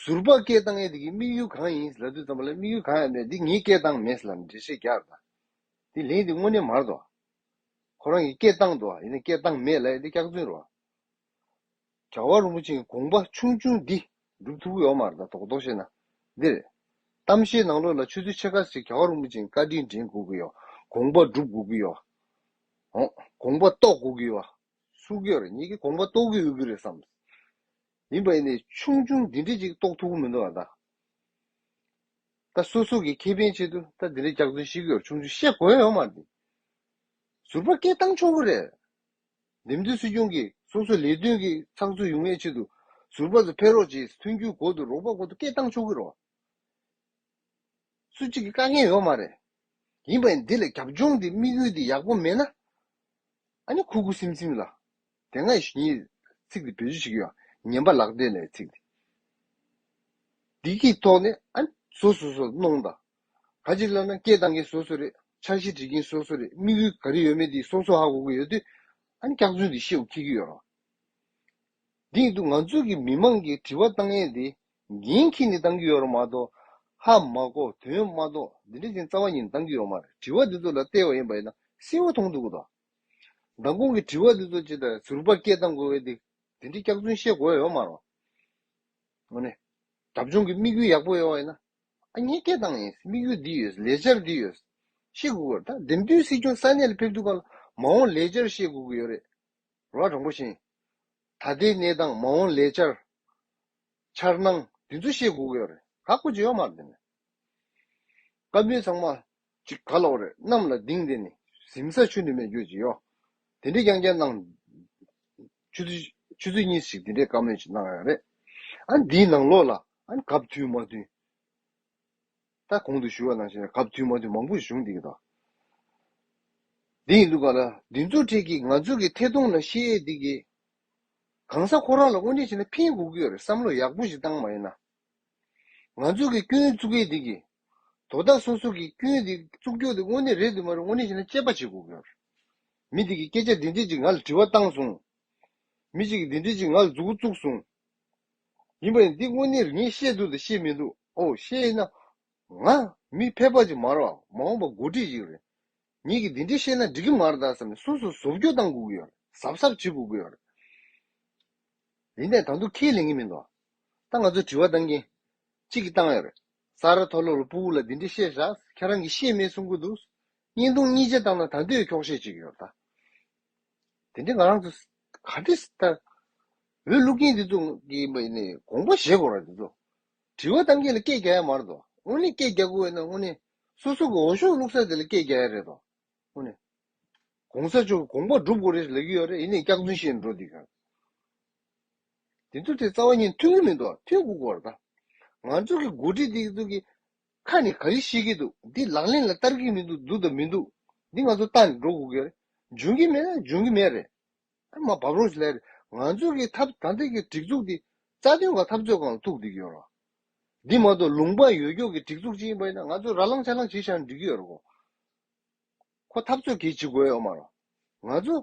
ཟུར་པགས་སྐད་བཏང་ཡས་དེ་གི་དམིགས་ཡུལ་གང་ཡིན་ལབ་དུས་ཙམ་པ་ལ་དམིགས་ཡུལ་གང་ཡང་མེད་དེ་ངས་སྐད་བཏང་མེད་ལབ་ནས་འགྲེལ་བཤད་རྒྱག་དང། དེ་ལན་དེ་དངོས་གནས་མར་དོ། ཁོ་རང་གི་སྐད་བཏང་དོ་ཡིན་ན་སྐད་བཏང་མེད་ལ་ཡས་དེ་སྐྱག་རྫུན་རོ། བྱ་བ་རིན་པོ་ཆེའི་དགོངས་པ་ཆུང་ཆུང་འདི་སྒྲུབ་ཐུབ་ཀྱི་ཡོད་མ་རེད་དམ་དོག་དོག་བྱས་ན། འདིར། གཏམ་བཤད་ནང་ལོགས་ལ་ཆུ་ཚོད་ཕྱེད་ཀ་ཟིག་བྱ་བ་རིན་པོ་ཆེའི་བཀའ་དྲིན་དྲན་དགོས་ཀྱི་ཡོད། དགོངས་པ་སྒྲུབ་དགོས་ཀྱི་ཡོད། ཨོ། དགོངས་པ་རྟོགས་དགོས་ཀྱི་ཡོད། སུ་གི་རེད་ཉིད་ཀྱི་དགོངས་པ་རྟོགས་ཀྱི་ཡོད་ཀྱི་རེད་བསམ། ཡིན་པ་ཡིན་ནའི་ཆུང་ཆུང་འདི་འདྲས་ཅིག་རྟོགས་ཐུབ་ཀྱི་མི་འདུག་ཨ་ད། ད་སོ་སོ་གི་ཁེ་ཕན་ཆེད་དུ་ད་འདི་འདྲས་སྐྱག་རྫུན་བཤད་ཀྱི་ཡོད་ཆུང་ཆུང་བཤད་དགོས་ཡོད་མ་རེད། ཟུར་པ་སྐད་བཏང་ཆོག་གི་རེད། འདེམས་བསྡུའི་སྲིད་སྐྱོང་གིས་སོ་སོའི་ལས་དོན་གྱི་ཚགས་ཚུད་ཡོང་བའི་ཆེད་དུ་ཟུར་པ་ཚོ་ཕེབས་རོགས་བྱས་ཐོན་རྒྱུའི་གོ་དུ་རོགས་པ་གོ་དུ་སྐད་བཏང་ཆོག་གི་རོགས། སུ་གཅིག་གི་བཀའ་ངལ་ཡོད་མ་རེད། ཡིན་པ་ཡིན་འདི་ལ་རྒྱབ་ལྗོངས་འདི་དམིགས་ཡུལ་འདི་ཡག་པོ་མེད་ན། ཨ་ནི་ཁུ་ཁུ་སིམ་སིམ་ལ། དེ་སྔ་ཡི་ཉིད་ཚིག་འདི་བེད་སྤྱོད་བྱེད་རྒྱུ་ཡང་ཉན་པ་ལག་བདེ་ལས་ཚིག་འདི། འདི་གི་ཐོག་ནས་ཨ་ནི་བཟོ་བཟོ་བཟོ་གནོང་དང། ག་ཅིག་བསླབ་ན་སྐད་གཏང་མཁན་སོ་སོ་རེད་འཆར་གཞི་བྲིས་མཁན་སོ་སོ་རེད་དམིགས་ཡུལ་ག་རེ་ཡོད་མེད་དེ་སོ་སོ་ཧ་གོ་གི་ཡོད་དུས་ཨ་ནི་སྐྱག་རྫུན་དེ་ཤེའུ་འཁྱེར་གི་ཡོད་རང། དེ་ཡིན་དུས་ང་ཚོ་གི་མི་མང་གི་དྲི་བ་གཏང་ཡས་དེ་འགན་འཁྱེར་ནས་གཏང་གི་ཡོད་རང་མ་གཏོགས་ཧ་མ་གོ་དོན་མ་གཏོགས་འདི་འདྲ་ཅན་རྩ་བ་ཉིད་ནས་གཏང་གི་ཡོད་མ་རེད་དྲི་བ་འདི་ཚོ་ལ་ལྟས་བ་ཡིན་པ་ཡིན་ན་སེམས་བ་ཐོང་འདུག་གི་དང། མདང་དགོང་གི་དྲི་བ་འདི་ཚོ་ཅི་ལྟར་ཟུར་པར་སྐད་གཏང་དགོས་ཡས་དེ་འདྲའི་སྐྱག་རྫུན་བཤད་དགོས་ཡས་ཡོད་མ་རང། འོ་ནི། དགྲ་བཅོང་གི་དམིགས་ཡུལ་ཡག་པོ་ཡོད་ཡས་ན་གཉིས་སྐྱེས་དང་ཡིན་དམིགས་ཡུལ་འདི་ཡོད་ལས་འཆར་འདི་ཡོད། ཤེས་དགོས་ཀྱི་རེད་ད་འདེམས་སྡོད་སྲིད་སྐྱོང་ས་གནས་ལ་ཕེབས་ཐུབ་པ་ལ་མ་འོངས་ལས་འཆར་ཤེས་དགོས་ཀྱི་ཡོད་རེད་རོགས་དྲང་པོ་བཞིན། ད་ལྟའི་གནས་སྟངས་མ་འོངས་ལས་འཆར། འཆར་སྣང་འདི་ཚོ་ཤེས་དགོས་ཀྱི་ཡོད་རེད་ཁག་པོ་བྱེད་ཡོད་མ་རེད་དེ་ནས། བཀའ་མོལ་ཚང་མ་ཅིག་ག་ལ་བ་རེད་གནམ་ལ་ལྡིང་དེ་ནི་གཟིམ་ས་ཆུ་འདི་མེད་རྒྱུ་ཅི་ཡོད་དེ་འདྲའི་རྐྱང་རྐྱང་གནང། ཆུ་ཚོད་གཉིས་ཤིག་དེ་འདྲའི་བཀའ་མོལ་ཅིག་གནང་ཡག་རེད་ཨང་འདིའི་ནང་ལོགས་ལ་ཨང་གབ་དུས་མ་དུས་ད་གོང་དུ་ཞུ་བ་ནང་བཞིན་གབ་དུས་མ་དུས་མང་པོ་བཞུགས་འདི་གི་དང་འདི་ཡིན་འདུག་ག་ལ་འདི་ཚོ་ཁྲིད་ཀྱིས་ང་ཚོ་གི་ཐད་གཏོང་ལ་ཤེས་ཡས་འདི་གི་གང་ས་ཁོ་རང་ལ་དབུ་འབྱེད་བྱེད་ན་ཕན་དགོས་གི་ཡོད་རེད་བསམ་བློ་ཡག་པོ་ཞིག་བཏང་མ་ཡིན་ན་ང་ཚོ་གི་སྐྱོན་བཙུགས་གི་འདི་གི་དོ་བདག་སོ་སོ་གིས་སྐྱོན་འདི་གཙུག་རྒྱོག་འདི་དངོས་གནས་རེད་འདུག་མ་རེད་དངོས་གནས་ཞིག་ན་དཔྱད་པ་བྱེད་དགོས་ཀྱི། མི་དེ་གིས་སྐད་ཆ་འདི་འདྲས་ཅིག་ང་ལ་དྲི་བ་བཏང་སོང། མི་གཅིག་གིས་འདི་འདྲས་ཅིག་ང་ལ་འཛུགས་བཙུགས་སོང། ཡིན་པ་ཡིན་འདི་དངོས་གནས་ངས་བཤད་འདུག་དང་བཤད་མི་འདུག་ཨོ་བཤད་ན། ང། མི་ཕལ་པ་ཅིག་མ་རེད། མ་འོངས་པ་མགོ་ཁྲིད་ཅིག་རེད། ངེད་ཀྱིས་འདི་འདྲས་བཤད་ན་འགྲིག་གི་མ་རེད་ད་བསམ་ནས་སོ་སོ་བཟོ་བཅོས་བཏང་དགོས་ཀྱི་ཡོད་རེད་གཟབ་གཟབ་བྱེད་དགོས་ཀྱི་ཡོད་རེད། ཡིན་ནས་ད་དུང་ཁས་ལེན་གྱི་མི་འདུག་ད་ང་ཚོས་དྲི་བ་བཏང་མཁན་གཅིག་གིས་བཏང་ཡོད་རེད། ས་རཱ་ཐོ་ལོ་རུ་པུའུ་ལ་འདི་འདྲི་བཤད་བཞག་ཁྱེད་རང་གི་ཤེས་མེད་གསུང་གི་འདུག་བརྙན་ཐུང་གཉིས་ཅན་བཏང་ན་ད་འདོད་འཁྱོག་བཤད་ཅིག་ཡོད་ད། དེ་འདྲི་ང་རང་ཚོ་ག་འདྲི་ལྟར་འོས་བླུག་མཁན་འདི་ཚོ་གི་དགོངས་པ་བཞེས་དགོས་ར་འདི་ཚོ་དྲི་བ་གཏང་མཁན་ལ་སྐད་རྒྱག་ཡ་མ་རེད་དོ་དངོས་གནས་སྐད་རྒྱག་དགོས་ཡོད་ན་དངོས་གནས་སོ་སོ་གི་འོ་ཤོག་བླུག་ས་དེ་ལ་སྐད་རྒྱག་ཡ་རེད་དོ་དངོས་གནས་གོང་ས་མཆོག་གི་དགོངས་པ་སྒྲུབ་དགོས་རེད་ལབ་ཀྱི་ཡོད་རེད་ཡིན་ནས་སྐྱག་རྫུན་བཤད་ནས་འགྲོ་འདི་ག། དེ་ཚོ་དེ་རྩ་བ་ཉིད་མཐུན་གྱི་མི་འདུག་མཐུན་དགུ་གོ་རེ་ད། ང་ཚོ་གི་འགོ་ཁྲིད་དེ་ཚོ་གི་ཁ་ནས་ག་རེ་བཤད་གི་འདུག་དེ་ལག་ལེན་ལ་བསྟར་གི་མི་འདུག་འདུག་དང་མི་འདུག་དེ་ང་ཚོ་ལྟ་ནས་འགྲོ་དགོ་གི་རེད་འཇོན་གི་མེད་ན་འཇོན་གི་མེད་རེད་ཨ་མ་བབ་རོགས་ཞེས་ལས་ང་ཚོ་གི་ཐབས་ད་ལྟ་གི་སྒྲིག་འཛུགས་དེ་རྩ་དོན་གང་ཐབས་རྩོད་གང་ལ་ཐུག་བསྡད་གི་ཡོད་རེད། དེ་མ་གཏོགས་ལུང་པ་ཡོད་ཀྱོག་གི་སྒྲིག་འཛུགས་ཅིག་ཡིན་པ་ཡིན་ན་ང་ཚོ་ར་ལང་ཆ་ལང་བྱེད་བཞག་ནས་འགྲིག་གི་ཡོད་རེད་གོ། ཁོ་འཐབ་རྩོད་གལ་ཆེ་གོའོ་མ་རོ། ང་ཚོ།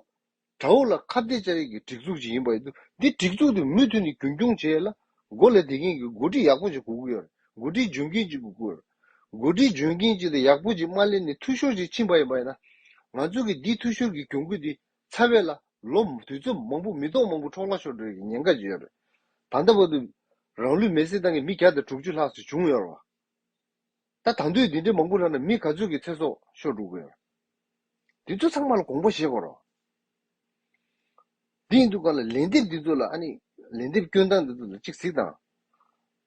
དྲ་བོ་ལ་ཁ་བརྡའི་སྤྱ་ཡིག་གི་སྒྲིག་འཛུགས་ཅིག་ཡིན་པ་ཡིན་འདུག་འདི་སྒྲིག་འཛུགས་དེ་མུ་མཐུད་ནས་རྒྱུན་སྐྱོང་བྱས་ལ། མགོ་ལས་དེ་མཁན་གྱི་མགོ་ཁྲིད་ཡག་པོ་ཅིག་དགོས་ཀྱི་ཡོད་རེད། མགོ་ཁྲིད་འཇོན་མཁན་ཅིག་དགོས་ཀྱི་ཡོད་རེད། མགོ་ཁྲིད་འཇོན་མཁན་ཅིག་དང་ཡག་པོ་ཅིག་མ་ལེན་ནས་འཐུས་ཤོར་ཅིག་ཕྱིན་པ་ཡིན་པ་ཡིན་ན། ང་ཚོ་གིས་འདིས་འཐུས་ཤོར་གྱི་གྱོང་གུད་དེ་ཚ་བས་ལ། ལོ། དུས་ཚོད་མང་པོ་མི་ཐོག་མང་པོ་འཕྲོག་ལ་ཤོར་འགྲོ་ཡི་གི་ཉེན་ཁ་ཅིག་ཡོད་རེད། ད་ལྟ་བར་དུ། རང་ལུས་མེར་སྲེག་བཏང་མཁན་མི་གྱ་དང་དྲུག་ཅུ་ལྷག་སུ་བྱུང་ཡོད་རེད་བ། ད་དང་དུས་འདི་འདྲའི་མང་པོ་ལ་ན་མི་ག་ཚོད་ཀྱི་ཚེ་སྲོག་ཤོར་འགྲོ་གི་ཡོད། འདི་ཚོ་ཚང་མ་ལ་གོང་བུ་བཞེས་དགོས་རོགས། དེ་ཡིན་དུས་ག་ལ་ལན་འདེབས་འདི་ཚོ་ལ་ཨ་ནི་ལན་འདེབས་སྐྱོན་སྟངས་འདི་ཚོ་ལ་གཅིག་གཟིགས་དང།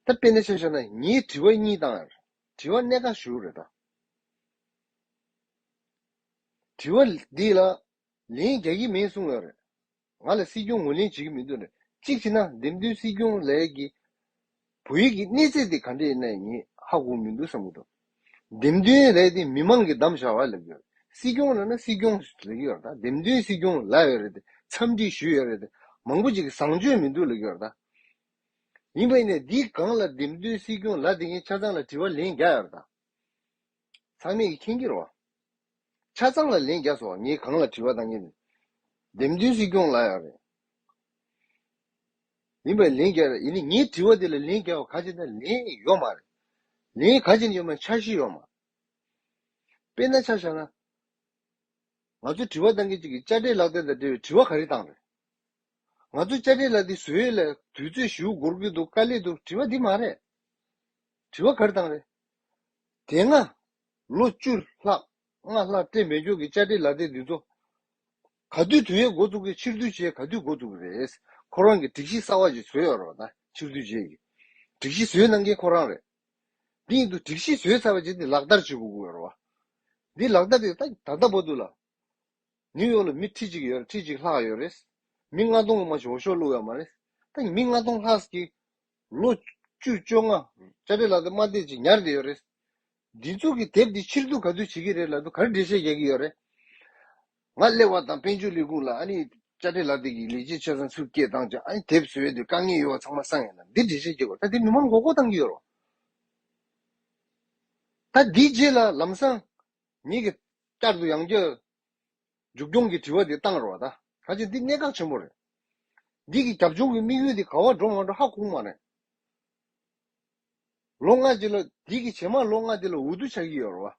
ད་དཔེ་ན་ཆ་ཤོར་ན་ངས་དྲི་བ་གཉིས་བཏང་ཡར་དྲི་བ་གནད་འགག་ཞུ་རེ་ད། དྲི་བ་འདི་ལ་ལན་རྒྱག་གི་མེད་གསུང་ཡོད་རེད། ང་ལ་སྲིད་སྐྱོང་ངོས་ལེན་བྱེད་ཀྱི་མི་འདུག་ནས་གཅིག་བྱས་ན་འདེམས་ཐོན་སྲིད་སྐྱོང་ལས་ཀྱི་བོད་ཡིག་གི་གནས་ཚད་དེ་ག་འདྲ་ཡིན་ནའི་ངས་ཧ་གོ་མི་འདུག་བསམ་གྱི་འདུག་འདེམས་ཐོན་ལས་དེ་མི་མང་གིས་བདམས་བྱ་བ་ལས་ཀྱི་སྲིད་སྐྱོང་ལ་ན་སྲིད་སྐྱོང་ལས་ཀྱི་བར་དང་འདེམས་ཐོན་སྲིད་སྐྱོང་ལ་ཡོད་རེད་དེ་འཚམས་འདྲི་ཞུས་ཡོད་རེད་དེ་མང་པོ་ཅིག་གིས་བཟང་སྤྱོད་མི་འདུག་ལས་ཀྱི་བར་དང། ཡིན་པ་ཡིན་ནའི་འདིའི་སྒང་ལ་འདེམས་ཐོན་སྲིད་སྐྱོང་ལ་དེ་ངས་ཆ་ཚང་ལ་དྲི་བ་ལན་བརྒྱ་ཡོད་རེད་དང། ཚང་མས་ཀྱིས་མཁྱེན་གྱི་རོ། ཆ་ཚང་ལ་ལན་བརྒྱ་སོ། ངས་གང་ལ་དྲི་བ་དང་ངས། འདེམས་མཐུན་སྲིད་སྐྱོང་ལ་ཡང་རེད། ཡིན་པས་ལན་བརྒྱ་རེད། ཡིན་ནས་ངས་དྲི་བ་དེ་ལ་ལན་བརྒྱ་བ་ག་ཅེ་ན་ལན་ཡོད་མ་རེད། ལན་ག་ཅེ་ན་ཡོད་མ་འཆར་གཞི་ཡོད་མ། དཔེར་ན་ཆ་བཞག་ན། ང་ཚོ་དྲི་བ་གཏང་མཁན་གཅིག་གིས་དཔྱ་ཁྲལ་ལག་རྟེན་དང་འབྲེལ་བའི་དྲི་བ་ག་རེ་བཏང་རེད། ང་ཚོ་དཔྱ་ཁྲལ་ལག་རྟེན་བཟོས་ཡོད་ལ་དུས་ཚོད་བཞི་བོ་འགོར་གྱི་འདུག་དཀའ་ལས་འདུག་དྲི་བ་འདི་མ་རེད། དྲི་བ་གར་དང་རེད། དེ་སྔ། ལོ་བཅུ་ལྷག་སྔ་ལྷག་སྤྲེལ་སྨད་ཕྱོགས་ཀྱི་བཅར་འདྲི་ལག་དེབ་འདི་ཚོ། ག་དུས་དུས་ཡོད་འགོ་བཙུགས་ཀྱི་ཕྱིར་བསྡུ་བྱེད་ག་དུས་འགོ་བཙུགས་པ་རེད། ཁོ་རང་གི་སྒྲིག་གཞི་གསར་བ་ཞིག་བཟོས་ཡོད་རེད་བ་ད་ཕྱིར་བསྡུ་བྱེད་ཀྱི། སྒྲིག་གཞི་བཟོས་གནང་མཁན་ཁོ་རང་རེད། དེ་ཡིན་དུས་སྒྲིག་གཞི་བཟོས་ཚར་བ་ཅིག་དེ་ལག་བསྟར་བྱེད་དགོས་ཀྱི་ཡོད་རེད་བ། དེ་ལག་བསྟར་དེ་ད་ལྟ་བ་དུས་ལ། ནིའུ་ཡོག་ལ་མི་ཁྲི་གཅིག་ཡོད་རེད་ཁྲི་གཅིག་ལྷག་ཡོད་རེད། མི་ལྔ་སྟོང་ལ་མ་ཤོག་ཤོག་བླུགས་ཡོད་མ་རེད། ད་མི་ལྔ་སྟོང་ལྷག་གིས་ལོ་བཅུ་བཅོ་ལྔ། བཅར་འདྲི་ལ་དུ་མ་བལྟས་ཅིག་ཉར་བསྡད་ཡོད་རེད། སྒྲིག་འཛུགས་ཀྱི་དེབ་འདི་ཕྱིར་བསྡུ་ག་ཚོད་བྱེད་ཀྱི་རེད་ལ་དུ་གར་འགྲེལ་བཤད་རྒྱག་གི་ཡོད་རེད། ང་གླེ་བ་དང་དཔལ་འབྱོར་ལས་ཁུངས་ལ་ཨ་ནི་བཅར་འདྲི་ལ་བལྟས་ཀྱིས་ལས་བྱེད་ཆོལ་ཚང་ཚུར་སྐྱེལ་བཏང་ཅིག་ཨ་ནི་དེབ་བཟོས་དུས་དཀའ་ངལ་ཡོད་བ་ཚང་མ་གསང་ཡོད་ན་འདིར་འགྲེལ་བཤད་བྱེད་དགོས་ད་དེ་མི་མང་མགོ་སྐོར་བཏང་གི་ཡོད་རོ། ད་འདིའི་རྗེས་ལ་ལམ་སང་ཉིད་ཀྱི་བསྐྱར་དུ་ཡང་བསྐྱར། མཇུག་སྐྱོང་གི་དྲི་བ་དེ་གཏང་རོགས་ད། ད་ཆ་འདི་གནད་འགག་ཆེན་པོ་རེད། འདི་གི་རྒྱབ་ལྗོངས་ཀྱི་དམིགས་ཡུལ་དེ་ག་བ་འགྲོ་ང་འགྲོ་ཧ་གོ་མ་རེད། ལོ་ལྔ་རྗེས་ལ་འདི་གི་ཇེ་མང་ལོ་ལྔ་དེ་ལ་འུ་ཐུག་ཆགས་ཀྱི་ཡོད་རེད་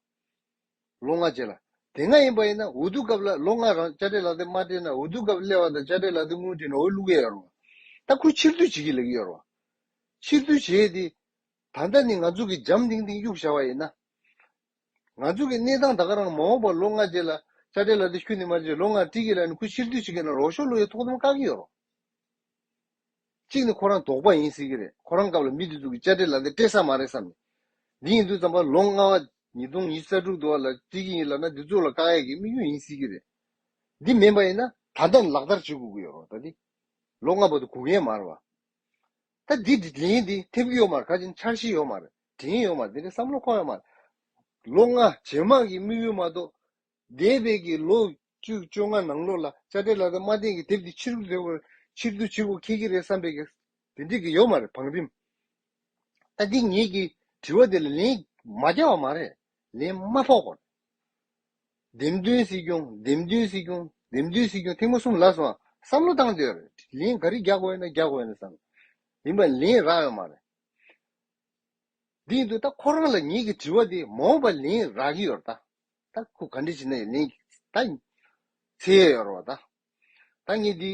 བ། ལོ་ལྔ་རྗེས་ལ། དེ་སྔ་ཡིན་པ་ཡིན་ན་འུ་ཐུག་སྐབས་ལ་ལོ་ལྔ་རང་དཔྱ་ཁྲལ་ལག་དེབ་མ་སྤྲད་ན་འུ་ཐུག་སྐབས་སླེ་བ་དང་དཔྱ་ཁྲལ་ལག་དེབ་དངུལ་བྲིས་ན་འོས་བླུག་གི་ཡོད་རེད་བ། ད་ཁོས་ཕྱིར་བསྡུ་བྱེད་ཀྱི་ལེགས་ཀྱི་ཡོད་རེད་བ། ཕྱིར་བསྡུ་བྱས་ཏེ། ད་ལྟ་ནི་ང་ཚོ་གི་འཇམ་ཐིང་ཐིང་གཡུག་བཞག་བ་ཡིན་ན། ང་ཚོ་གི་གནས་སྟངས་ད་ག་རང་མ་འོངས་པར་ལོ་ལྔ་རྗེས་ལ་ཅག་འདྲེ་ལ་དེ་ཁྱུ་ནི་མ་རེད་ལོ་ལྔ་ཀྲི་གི་ལ་ནི་ཁུ་ཕྱིར་སྡུད་བྱེད་ཀྱི་ན་རོག་ཤོག་ལོ་ཡི་ཐོག་དམ་བཀག་གི་ཡོད་རོག། གཅིག་ནི་ཁོ་རང་དོག་པ་ཡིན་སྲིད་ཀྱི་རེད་ཁོ་རང་སྐབས་ལ་མི་དེ་ཚོ་གི་ཅག་འདྲེ་ལ་དེ་སྤྲད་ས་མ་རེད་བསམ་ནས་འདི་ཡིན་དུས་བརྩམས་པ་ལོ་ལྔ་བ་ཉིས་སྟོང་ཉིས་རྩ་དྲུག་དུ་བ་ལ་ཀྲི་གི་ཡིན་ལབ་ན་འདི་ཚོ་ལ་བཀག་ཡས་ཀྱི་དམིགས་ཡུལ་ཡིན་སྲིད་ཀྱི་རེད་འདི་མིན་པ་ཡིན་ན་ད་ལྟ་ནས་ལག་བསྟར་བྱེད་དགོས་ཀྱི་ཡོད་རོག་ད་དེ་ལོ་ལྔ་བ་དུ་གུག་ཡས་མ་རེད་བ། ད་འདི་འདི་དྲིན་འདི་ཐེབས་ཀྱི་ཡོད་མ་རེད་ཁ་ཆེ་འཆར་གཞི་ཡོད་མ་རེད་དྲིན་ཡོད་མ་རེད་དེ་འདྲའི་བསམ་བློ་འཁོར་ཡོད་མ་རེད། ལོ་ལྔ་ཇེ་མང་གི་དམིགས་ཡུལ་མ་གཏོགས། འདས་པའི་གི་ལོ་བཅུ་བཅོ་ལྔ་ནང་ལོགས་ལ་དཔྱ་ཁྲལ་ལ་དང་མ་བསྟན་གི་དེབ་འདི་ཕྱིར་བསྡུ་བར་ཕྱིར་བསྡུ་བྱེད་དགོས་ཁེལ་གྱི་རེད་བསམ་པའི་གི་དེ་འདྲི་གི་ཡོད་མ་རེད་བང་རིམ། ད་འདི་ངེད་ཀྱི་དྲི་བ་འདི་ལ་ལན་མ་རྒྱག་བ་མ་རེད་ལན་མ་ཕོག་པ་རེད། འདེམས་མདུན་སྲིད་སྐྱོང་འདེམས་མདུན་སྲིད་སྐྱོང་འདེམས་མདུན་སྲིད་སྐྱོང་ཐེངས་མ་གསུམ་ལ་སོང་བ་བསམ་བློ་བཏང་དེར་ལན་ག་རེ་རྒྱག་དགོས་ན་རྒྱག་དགོས་ན་བསམ་ཡིན་པ་ལན་རག་ཡོད་མ་རེད། འདི་འདུག་ད་ཁོ་རང་ལ་ངེད་ཀྱི་དྲི་བ་འདི་མ་འོངས་པར་ལན་རག་གི་ཡོད་ད། ད་ཁོ་ག་འདྲ་བྱེད་ན་ཡང་ལན་ད་འཚལ་ཡས་ཡོད་རེད་བ་ད། ད་ངས་འདི།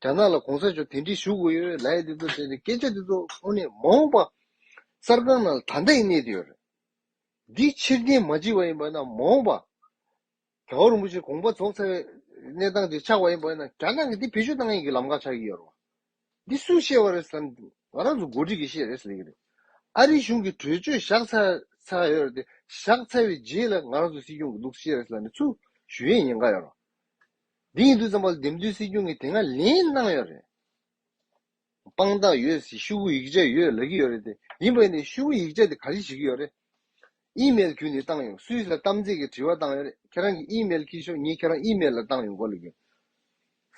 རྒྱ་ནག་ལ་གོང་ས་མཆོག་དེ་འདྲི་ཞུ་དགོས་ཡོད་རེད་ལའི་དེ་ཚོ་དེ་སྐད་ཆ་དེ་ཚོ་ཁོ་ནས་མ་འོངས་པ་གསར་ཁང་ནང་ལ་ད་ལྟ་ཡིན་གནས་དེ་ཡོད་རེད་འདི་ཕྱིར་འཐེན་མ་བྱེད་པ་ཡིན་པ་ན་མ་འོངས་པ་རྒྱ་བོ་རིན་པོ་ཆེ་གོང་པ་རྫོགས་ཚར་བའི་གནས་སྟངས་དེ་ཆགས་པ་ཡིན་པ་ན་རྒྱ་ནག་གི་འདི་བེད་སྤྱོད་གཏང་ཡིག་གི་ལམ་ཁ་ཆགས་ཀྱི་ཡོད་རེད་བ་འདི་སུས་བཤད་པ་རེད་བསམ་ང་རང་ཚོ་མགོ་འཁྲིད་ཀྱི་བཤད་རེད་ཟེར་གྱི་རེད་ཨ་རིའི་གཞུང་གི་གྲོས་ཆོད་བཞག་ཚར་ཚར་ཡོད་རེད་དེ་བཞག་ཚར་བའི་རྗེས་ལ་ང་རང་ཚོ་སྲིད་སྐྱོང་གི་ལུགས་བཤད་རེད་ཟེར་ནས་ཚུར་ཞུ་ཡས་ཉེན་ཁ་ཡོད་རེད་བ། འདི་ཡིན་འདུག་བསམ་པ་འདེམས་སྡོད་སྲིད་སྐྱོང་གིས་དེ་སྔ་ལན་གནང་ཡོད་རེད། དཔང་རྟགས་ཡོད་སྲིད་ཤུགས་ཡིག་ཆ་ཡོད་ལབ་ཀྱི་ཡོད་རེད་དེ་ཡིན་པ་ཡིན་ནའི་ཤུགས་ཡིག་ཆ་དེ་ག་རེ་བྱེད་ཀྱི་ཡོད་རེད། ཨིམེལ་བརྒྱུད་ནས་བཏང་ཡོང་སུས་ལ་གཏམ་ཚེགས་ཀྱི་དྲི་བ་བཏང་ཡོད་རེད་ཁྱེད་རང་གི་ཨིམེལ་ཁྱེར་ཤོག་ངས་ཁྱེད་རང་ཨིམེལ་ལ་བཏང་ཡོང་གོ་ལ་རྒྱུ།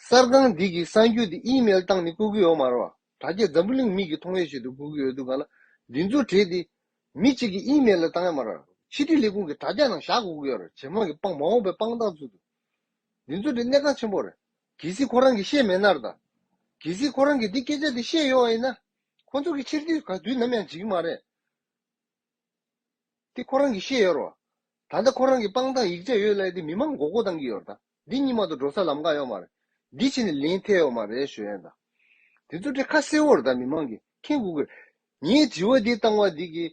གསར་ཁང་འདི་གི་གསར་འགྱུར་འདི་ཨིམེལ་བཏང་ནས་བཀོད་ཀྱི་ཡོད་མ་རེད་བ། དྲ་རྒྱ་འཛམ་བུ་གླིང་མིག་གི་མཐོང་ཡོད་ཆེད་དུ་བཀོད་ཀྱི་ཡོད་འདུག་ག་ལ་འདི་ཚོ་བྲིས་ཏེ་མི་གཅིག་གི་ཨིམེལ་ལ་བཏང་ཡོད་མ་རེད་བ། ཕྱི་དྲིལ་ལས་ཁུངས་ཀྱི་དྲ་རྒྱ་ནང་བཞག་དགོས་ཀྱི་ཡོད་རེད་ཇེ་མང་གི་དཔང་མ་འོངས་པའི་དཔང་རྟགས་ཚུལ་དུ། འདི་ཚོ་འདི་གནད་འགག་ཆེན་པོ་རེད། གལ་སྲིད་ཁོ་རང་གིས་ཤེས་མེད་ནར་དང། གལ་སྲིད་ཁོ་རང་གིས་འདི་སྐད་ཆ་འདི་བཤད་ཡོང་བ་ཡིན་ན། ཁོ་ཚོ་གི་ཕྱིར་དུས་ག་དུས་ནམ་ཡང་འཇིག་གི་མ་རེད། དེ་ཁོ་རང་གིས་ཤེས་ཡོར་བ། ད་ལྟ་ཁོ་རང་གིས་པང་དང་ཡིག་ཆ་ཡོད་ལས་དེ་མི་མང་མགོ་སྐོར་བཏང་གི་ཡོར་དང། འདི་གཉིས་མ་ཏོ་འགྲོ་ས་ལམ་ཀ་ཡོང་མ་རེད། འདི་ཕྱི་ནས་ལེན་ཐེ་ཡོང་མ་རེད་ཞོ་ཡན་དང། འདི་ཚོ་འདྲེ་ཁ་སེ་བོར་དང་མི་མང་གིས་ཁེངས་དགོས་ཀི་རེད། ངས་དྲི་བ་འདི་བཏང་བ་འདི་གིས་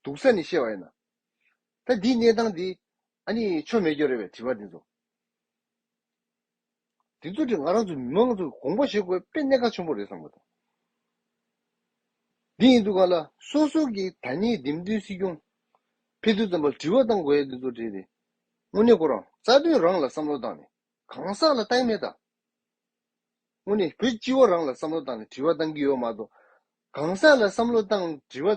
སྡུག་ས་ནས་བཤད་བ་ཡིན་ན། ད་འདིའི་གནས་སྟངས་འདི། ཨ་ནི་ཆོ་མེད་སྐྱོ་རེད་བས་དྲི་བ་འདི་ཚོ། འདི་ཚོ་དེ་ང་རང་ཚོ་མི་མང་ཚོ་དགོངས་པ་བཞེས་དགོས་དཔེ་གནད་འགག་ཆེན་པོ་རེད་བསམ་དགོས་དང། འདི་ཡིན་འདུག་ག་ལ་སོ་སོ་གི་ད་ནི་འདེམས་ཐོན་སྲིད་སྐྱོང། ཕེ་ཐོ་ཙམ་པ་དྲི་བ་བཏང་དགོས་ཡ་འདི་ཚོ་དྲིས་ཏེ། དངོས་གནས་ཁོ་རང་རྩ་དོན་རང་ལ་བསམ་བློ་བཏང་ནས་གང་ཟག་ལ་ལྟ་ཡི་མེད་ད། དངོས་ནས་བོད་སྤྱི་བོ་རང་ལ་བསམ་བློ་བཏང་ནས་དྲི་བ་བཏང་གི་ཡོད་མ་གཏོགས། གང་ཟག་ལ་བསམ་བློ་བཏང་དྲི་བ་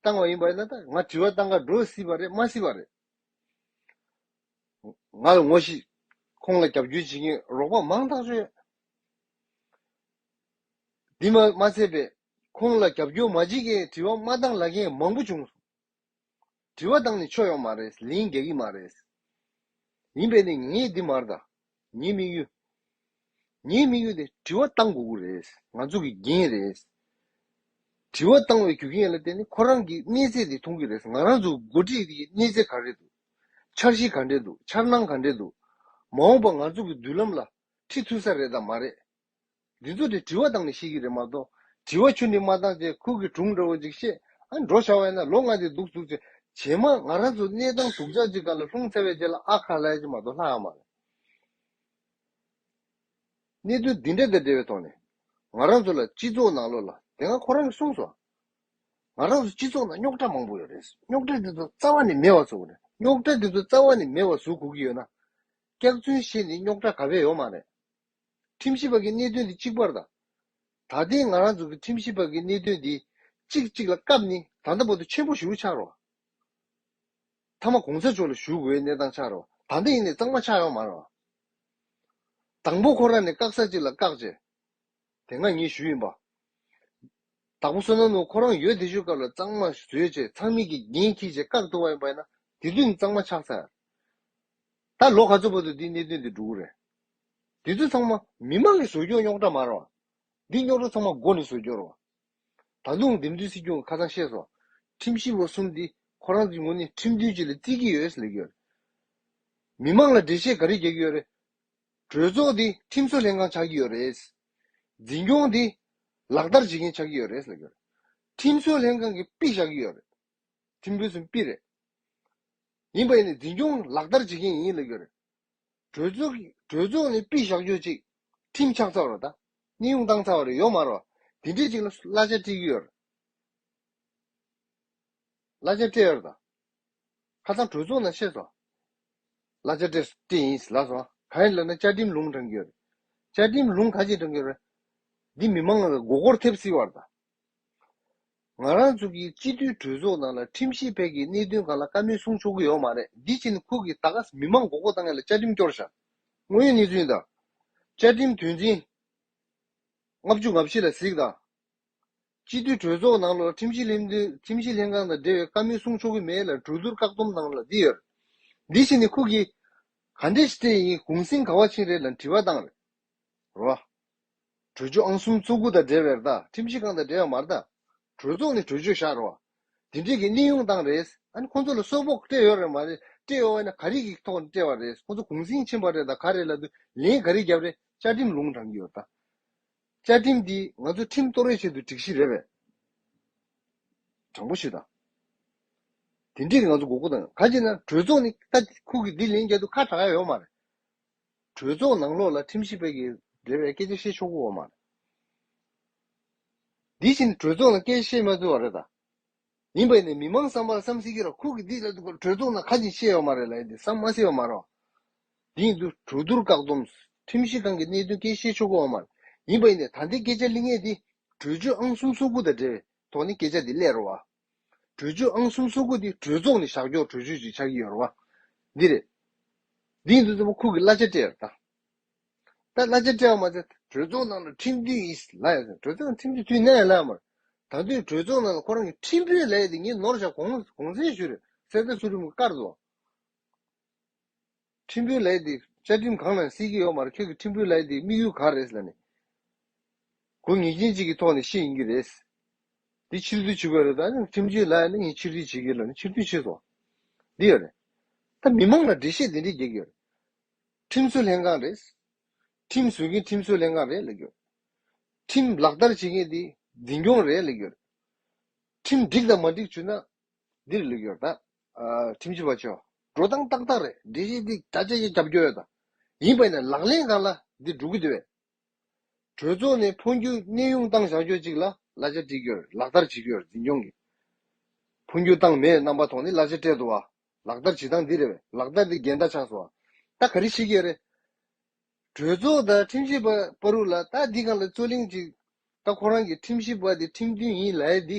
བཏང་བ་ཡིན་པ་ན་ད་ང་དྲི་བ་བཏང་ག་འགྲོ་སྲིད་པ་རེད་མ་སྲིད་པ་རེད། ང་ལ་ངོ་ཤེས། ཁོང་ལ་རྒྱབ་སྐྱོར་བྱེད་མཁན་རོགས་པ་མང་ཐག་ཆོད་ཡོད། དེ་མ་མ་ཚད་པས་ཁོང་ལ་རྒྱབ་སྐྱོར་མ་བྱེད་མཁན་དྲི་བ་མ་བཏང་ལ་མཁན་མང་པོ་བྱུང། དྲི་བ་དང་ནི་ཆོས་ཡོང་མ་རེད་ལིང་རྒྱ་ཡིག་མ་རེད། ཡིན་པས་ནི་ངེད་འདི་མར་དང་ངེད་དམིགས་ཡུལ། ངེད་དམིགས་ཡུལ་དེ་དྲི་བ་བཏང་དགོས་དགོས་རེད་ང་ཚོ་གི་འགན་རེད། དྲི་བ་བཏང་བའི་རྒྱུ་རྐྱེན་ལ་བརྟེན་ནས་ཁོ་རང་གི་གནས་ཚད་དེ་མཐོང་གི་རེད་ང་རང་ཚོ་འགོ་ཁྲིད་དེ་གནས་ཚད་ག་རེད་འདུག་འཆར་གཞི་ག་འདྲེ་འདུག་འཆར་སྣང་ག་འདྲེ་འདུག་མ་འོངས་པ་ང་ཚོ་གི་མདུན་ལམ་ལ་ཁྲིད་ཐུབ་ས་རེད་དང་མ་རེད། འདི་ཚོ་དེ་དྲི་བ་བཏང་ནས་ཤེས་ཀྱི་རེད་མ་གཏོགས་དྲི་བ་ཆུ་ནི་མ་བཏང་ཅེས་ཁུར་གི་དྲུང་འདྲ་བོ་ཅིག་བཤད་ཨ་འགྲོ་ཤ་བས་ན་ལོ་ལྔ་དེ་འདུག་བཅུག་ཅེས་བྱས་མ་ང་རང་ཚོ་གནས་སྟངས་དུག་ཅག་ཅིག་ག་ལ་ལྷུང་ཚ་བའི་རྗེས་ལ་ཨ་ཁ་ལ་ཡ་ཅིག་མ་གཏོགས་ལྷག་ཡ་མ་རེད། གནད་དོན་འདི་འདྲ་དང་འབྲེལ་བའི་ཐོག་ནས་ང་རང་ཚོ་ལ་སྤྱི་ཚོགས་ནང་ལོགས་ལ་དེ་སྔ་ཁོ་རང་གིས་གསུངས་སོང། ང་རང་ཚོ་སྤྱི་ཚོགས་ནང་རྙོག་དྲ་མང་པོ་ཡོད་རེད་རྙོག་དྲ་དེ་ཚོ་རྩ་བ་ནས་མེད་བར་བཟོ་དགོས་རེད་རྙོག་དྲ་དེ་ཚོ་རྩ་བ་ནས་མེད་བར་བཟོ་དགོས་ཀྱི་ཡོད་ན། སྐྱག་རྫུན་བཤད་ནས་རྙོག་དྲ་ག་བས་ཡོང་མ་རེད། ཁྲིམས་ཞིབ་པ་གྱི་གནད་དོན་འདི་གཅིག་པར་དང། ད་ལྟའི་ང་རང་ཚོ་གི་ཁྲིམས་ཞིབ་པ་གྱི་གནད་དོན་འདི་གཅིག་གཅིག་ལ་སྐབས་ནི་ད་ལྟ་བར་དུ་ཆེན་པོ་ཞུགས་ཆགས་རོགས། མཐའ་མ་གོང་ས་མཆོག་ལ་ཞུགས་དགོས་གནས་སྟངས་ཆགས་རོགས་ད་ལྟ་ཡིན་ནས་གཙང་མ་ཆགས་ཡོང་མ་རོགས། དང་པོ་ཁོ་རང་ནས་བཀག་ས་གཅིག་ལ་བཀག་བྱས་དེ་ང་ཉིད་ཞུ་ཡིན་པ། དང་པོ་བསོད་ནམས་ནོར་ཁོ་རང་ཡོད་དེ་ཞུ་སྐབས་ལ་གཙང་མ་བཟོས་བྱས་ཚང་མིག་གིས་འགན་འཁྱིལ་བྱས་བཀག་ཐུབ་བ་ཡིན་པ་ཡིན་ན་དེ་དུས་ནས་གཙང་མ་ཆགས་ཚར། ད་ལོ་ག་ཚོད་བར་དུ་འདི་གནད་དོན་འདི་འགྲོ་གི་རེད། དེ་ཚོ་ཚང་མ་མི་མང་གི་བཟོ་སྐྱོང་རྙོག་དྲ་མར་བ། འདི་རྙོག་དྲ་ཚང་མ་མགོ་ནས་བཟོ་རྒྱུར་བ། ད་དུང་འདེམས་བསྡུའི་སྲིད་སྐྱོང་ཁ་ཚང་ཤེས་སོང། ཁྲིམས་བཞི་ལོ་གསུམ་འདི་ཁོ་རང་ཚོའི་ངོ་ནས་ཁྲིམས་མཐུན་ཅི་ལ་བརྩི་གི་ཡོད་ཟེར་གི་ཡོད་རེད། མི་མང་ལ་འགྲེལ་བཤད་ག་རེ་རྒྱག་གི་ཡོད་རེད། གྲོས་ཚོགས་འདི་ཁྲིམས་བཟོ་ལྷན་ཁང་ཆགས་ཀྱི་ཡོད་རེད། འཛིན་སྐྱོང་འདི་ལག་བསྟར་བྱེད་མཁན་ཆགས་ཀྱི་ཡོད་རེད་ཟེར་གི་ཡོད་རེད། ཁྲིམས་བཟོ་ལྷན་ཁང་གི་དཔེ་བཞག་གི་ཡོད་རེད། ཁྲིམས་བཟོ་ཚོའི་དཔེ་རེད། ཡིན་པ་ཡིན་ནས་འཛིན་སྐྱོང་ལག་བསྟར་བྱེད་མཁན་ཡིན་ལབ་ཀྱི་ཡོད་རེད། གྲོས་ཚོགས་ནི་པི་ཞག་ཅུ་གཅིག་ཁྲིམས་ཆགས་ཚར་བ་དང་གནས་དབྱུང་བཏང་ཚར་བ་རེད་ཡོག་མ་རོ། དེ་འདྲས་ཅིག་ལ་གླ་ཆ་སྤྲད་ཀྱི་ཡོད། གླ་ཆ་སྤྲད་ཡོད་དང། ཁ་སང་གྲོས་ཚོགས་ནང་བཤད་སོང། གླ་ཆ་སྤྲད་སྤྲད་ཡིན་ལབ་སོང། གང་ཡིན་ལབ་ན་བཅའ་ཁྲིམས་ལུང་དྲངས་ཀྱི་ཡོད། བཅའ་ཁྲིམས་ལུང་ག་ཅིག་དྲངས་ཀྱི་ཡོད། འདི་མི་མང་ལ་མགོ་སྐོར་ཐེབས་སྲིད་བར་དང། ང་རང་ཚོ་གིས་སྤྱི་འཐུས་གྲོས་ཚོགས་ནང་ལ་ཁྲིམས་ཞིབ་ཕལ་གྱི་གནད་དོན་གང་ལ་བཀའ་མོལ་གསུང་ཆོག་གི་ཡོག་མ་རེད་འདི་བཞིན་ཁུག་གིས་ད་ག་ས་མི་མང་མགོ་སྐོར་བཏང་ཡ་ལ་བཅའ་ཁྲིམས་སྐྱོར་བཞག་དངོས་ཡོད་གནས་ཚུན་དང། བཅའ་ཁྲིམས་དོན་ཚིང། ལྔ་བཅུ་ང་བཞི་ལ་གཟིགས་དང། སྤྱི་འཐུས་གྲོས་ཚོགས་ནང་ལོར་ཁྲིམས་ཞིབ་ལྷན་ཁྲིམས་ཞིབ་ལྷན་ཁང་དང་འབྲེལ་བའི་བཀའ་མོལ་གསུང་ཆོག་གི་མེད་ལ་གྲོས་བསྡུར་བཀག་སྡོམ་གནང་ལ་འདི་ཡོད་འདི་བཞིན་ནི་ཁུག་གིས་ག་འདྲས་ཤི་ཚད་ཡིན་གུང་སེང་ག་བ་ཆིངས་རེད་ལ་འདྲི་བ་བཏང་རེད་རོ། གྲོས་ཆོད་ཨང་གསུམ་ཚོ་དགུ་དང་འབྲེལ་བའི་རྟགས་ཁྲིམས་གཞི་གང་དང་འབྲེལ་བའི་མ་རྟགས། གྲོས་ཚོགས་ནས་གྲོས་ཆོད་བཞག་རོགས། དེ་འབྲེལ་གྱི་གནས་དབྱུང་བཏང་རེད། ཨ་ནི་ཁོང་ཚོ་ལ་གསོལ་ཕོགས་སྤྲད་ཡོད་རེད་མ་རེད། སྤྲད་ཡོད་ན་ག་རིགས་ཀྱི་ཐོག་ནས་སྤྲད་པ་རེད། ཁོང་ཚོ་གུང་སེང་ཕྱིན་པ་རེད་དང་ག་རེད་ལ་དུ་ལེན་ག་རིགས་བརྒྱབ་རེད་བཅའ་ཁྲིམས་ལུང་དྲངས་ཀྱི་ཡོད་ད། བཅའ་ཁྲིམས་འདི་ང་ཚོ་ཁྲིམས་གཏོར་བའི་ཆེད་དུ་སྒྲིག་གཞི་རེད་པས། དྲང་པོ་ཞུ་ད། དེ་འབྲེལ་གྱི་ང་ཚོ་མགོ་སྐོར་དང་ག་ཅིག་ན་གྲོས་ཚོགས་ནས་ལྟ་ཁུག་གི་འདི་ལེན་རྒྱ་དུ་ཁ་གྲགས་ཡོད་མ་རེད། གྲོས་ཚོགས་ནང་ལོགས་ལ་ཁྲིམས་ཞིབ་པ་ཡི་འབྲེལ་བའི་སྐད་ཆ་བཤད་ཆོག་གོ་མ་རེད། འདི་བཞིན་གྲོས་ཚོགས་ནང་སྐད་ཆ་བཤད་མ་ཚུལ་བ་རེད་ད། ཡིན་པ་ནི་མི་མང་བསམ་པར་བསམ་སྲིད་ཀྱི་ར་ཁུག་གི་འདི་ལ་གྲོས་ཚོགས་ནང་ཁ་ཅིག་བཤད་ཡོག་མ་རེད་ལ་ཡིན་འདི་བསམ་མ་སྲིད་བ་མ་རེད། འདི་ཡིན་དུ་གྲོས་བསྡུར་བཀག་སྡོམ། ཁྲིམས་ཞིབ་ཁང་གི་གནད་དོན་སྐད་བཤད་ཆོག་གོ་བ་མ་རེད། ཡིན་པ་ཡིན་ནས་ད་འདི་སྐད་ཆ་གླེང་ངེས་འདི་གྲོས་ཆོད་ཨང་གསུམ་སོ་དགུ་དང་འབྲེལ་བའི་ཐོག་ནས་སྐད་ཆ་འདི་གླེང་རོགས། གྲོས་ཆོད་ཨང་གསུམ་སོ་དགུ་འདི་གྲོས་ཚོགས་ནས་བཞག་འཇོག་གྲོས་ཆོད་ཅིག་ཆགས་ཀྱི་ཡོད་རེད་བ། འདི་རེད། འདིས་འདི་ཙམ་པོ་ཁུག་གི་གླ་ཆ་སྤྲད་ཡོད་རེད་ད། གླ་ཆ་སྤྲད་བ་མ་ཚད་གྲོས་ཚོགས་ནང་ལ་ཁྲིམས་མཐུན་ཡིན་སྲིད་ལ་ཡོད་ཟེར་གྲོས་ཚོགས་ནང་ཁྲིམས་མཐུན་མཐུན་ནའི་ལ་ཡོད་མ་རེད། ད་དུས་གྲོས་ཚོགས་ནང་ལ་ཁོ་རང་གི་ཁྲིམས་དཔོན་ལ་ཡོད་དེ་ངས་ནོར་བཞག་གོང་གོང་གསལ་ཞུ་རེད་གསལ་གསལ་སུ་རིམ་གར་དུ་བ། ཁྲིམས་དཔོན་ལགས་འདི་བཅའ་ཁྲིམས་གང་ནང་གསལ་གྱི་ཡོག་མ་རེད་ཁྱོད་ཀྱི་ཁྲིམས་དཔོན་ལགས་འདི་དམིགས་ཡུལ་གང་རེད་ལ་ནི་དགོས་ངེས་རྐྱེན་གཅིག་གི་ཐོག་ནས་ཤེས་ཡིན་གྱི་རེད། འདི་ཕྱིར་བསྡུ་བྱེད་དགོས་རེད་ད་ཁྲིམས་གཅོད་ལགས་ནི་ངས་ཕྱིར་བསྡུ་བྱེད་གི་ལ་ནི་ཕྱིར་བསྡུ་བྱེད་སོང་འདི་ཡོད་རེད། ད་མི་མང་ལ་འགྲེལ་བཤད་འདི་འདྲས་རྒྱག་གི་ཡོད་རེད། ཁྲིམས་བཟོ་ལྷན་ཁང་རེད། ཁྲིམས་བཟོ་མཁན་ཁྲིམས་བཟོ་ལྷན་ཁང་རེད་ལ་གྱོད་རེད། ཁྲིམས་ལག་བསྟར་བྱེད་མཁན་འདི་འཛིན་སྐྱོང་རེད་ལ་གྱོད་རེད། ཁྲིམས་འགྲིག་དང་མ་འགྲིག་བྱུས་ན་འདི་རུ་ལུས་ཡོད་ད། ཁྲིམས་ཞིབ་པ་ཆོས་འགྲོ་སྟངས་ཏག་ཏག་རེད་འདི་བཞིན་འདི་བྱ་བྱེད་ཀྱི་རྒྱབ་སྐྱོར་ཡོད་ད། ཡིན་པ་ནས་ལག་ལེན་གང་ལ་འདི་སྒྲུབ་ཀྱི་འདུག་བས། གྲོས་ཚོགས་ནས་འཕོ་འགྱུར་གནས་དབྱུང་སྟངས་བྱང་ཆོས་གཅིག་ལ་གླ་ཆ་སྒྲིག་ཡོད་རེད་ལག་བསྟར་བྱེད་ཀྱི་ཡོད་རེད་འཛིན་སྐྱོང་གིས། འཕོ་འགྱུར་སྟངས་མེད་རྣམ་པ་ཐོག་ནས་གླ་ཆ་སྤྲད་འདུག་བ། ལག་བསྟར་བྱེད་སྟངས་འདི་རེད་བས་ལག་བསྟར་འདི་འགལ་ཟླ་ཆགས་སོང་བ། ད་ག་རེ་བྱེད་ཀྱི་ཡོད་རེད། གྲོས་ཚོགས་དང་ཁྲིམས་ཞིབ་པ་པ་རུ་ལ་ད་འདི་གང་ལ་རྩོད་གླེང་གཅིག་ད་ཁོ་རང་གིས་ཁྲིམས་ཞིབ་པ་འདི་ཁྲིམས་མཐུན་ཡིན་ལའེ་འདི།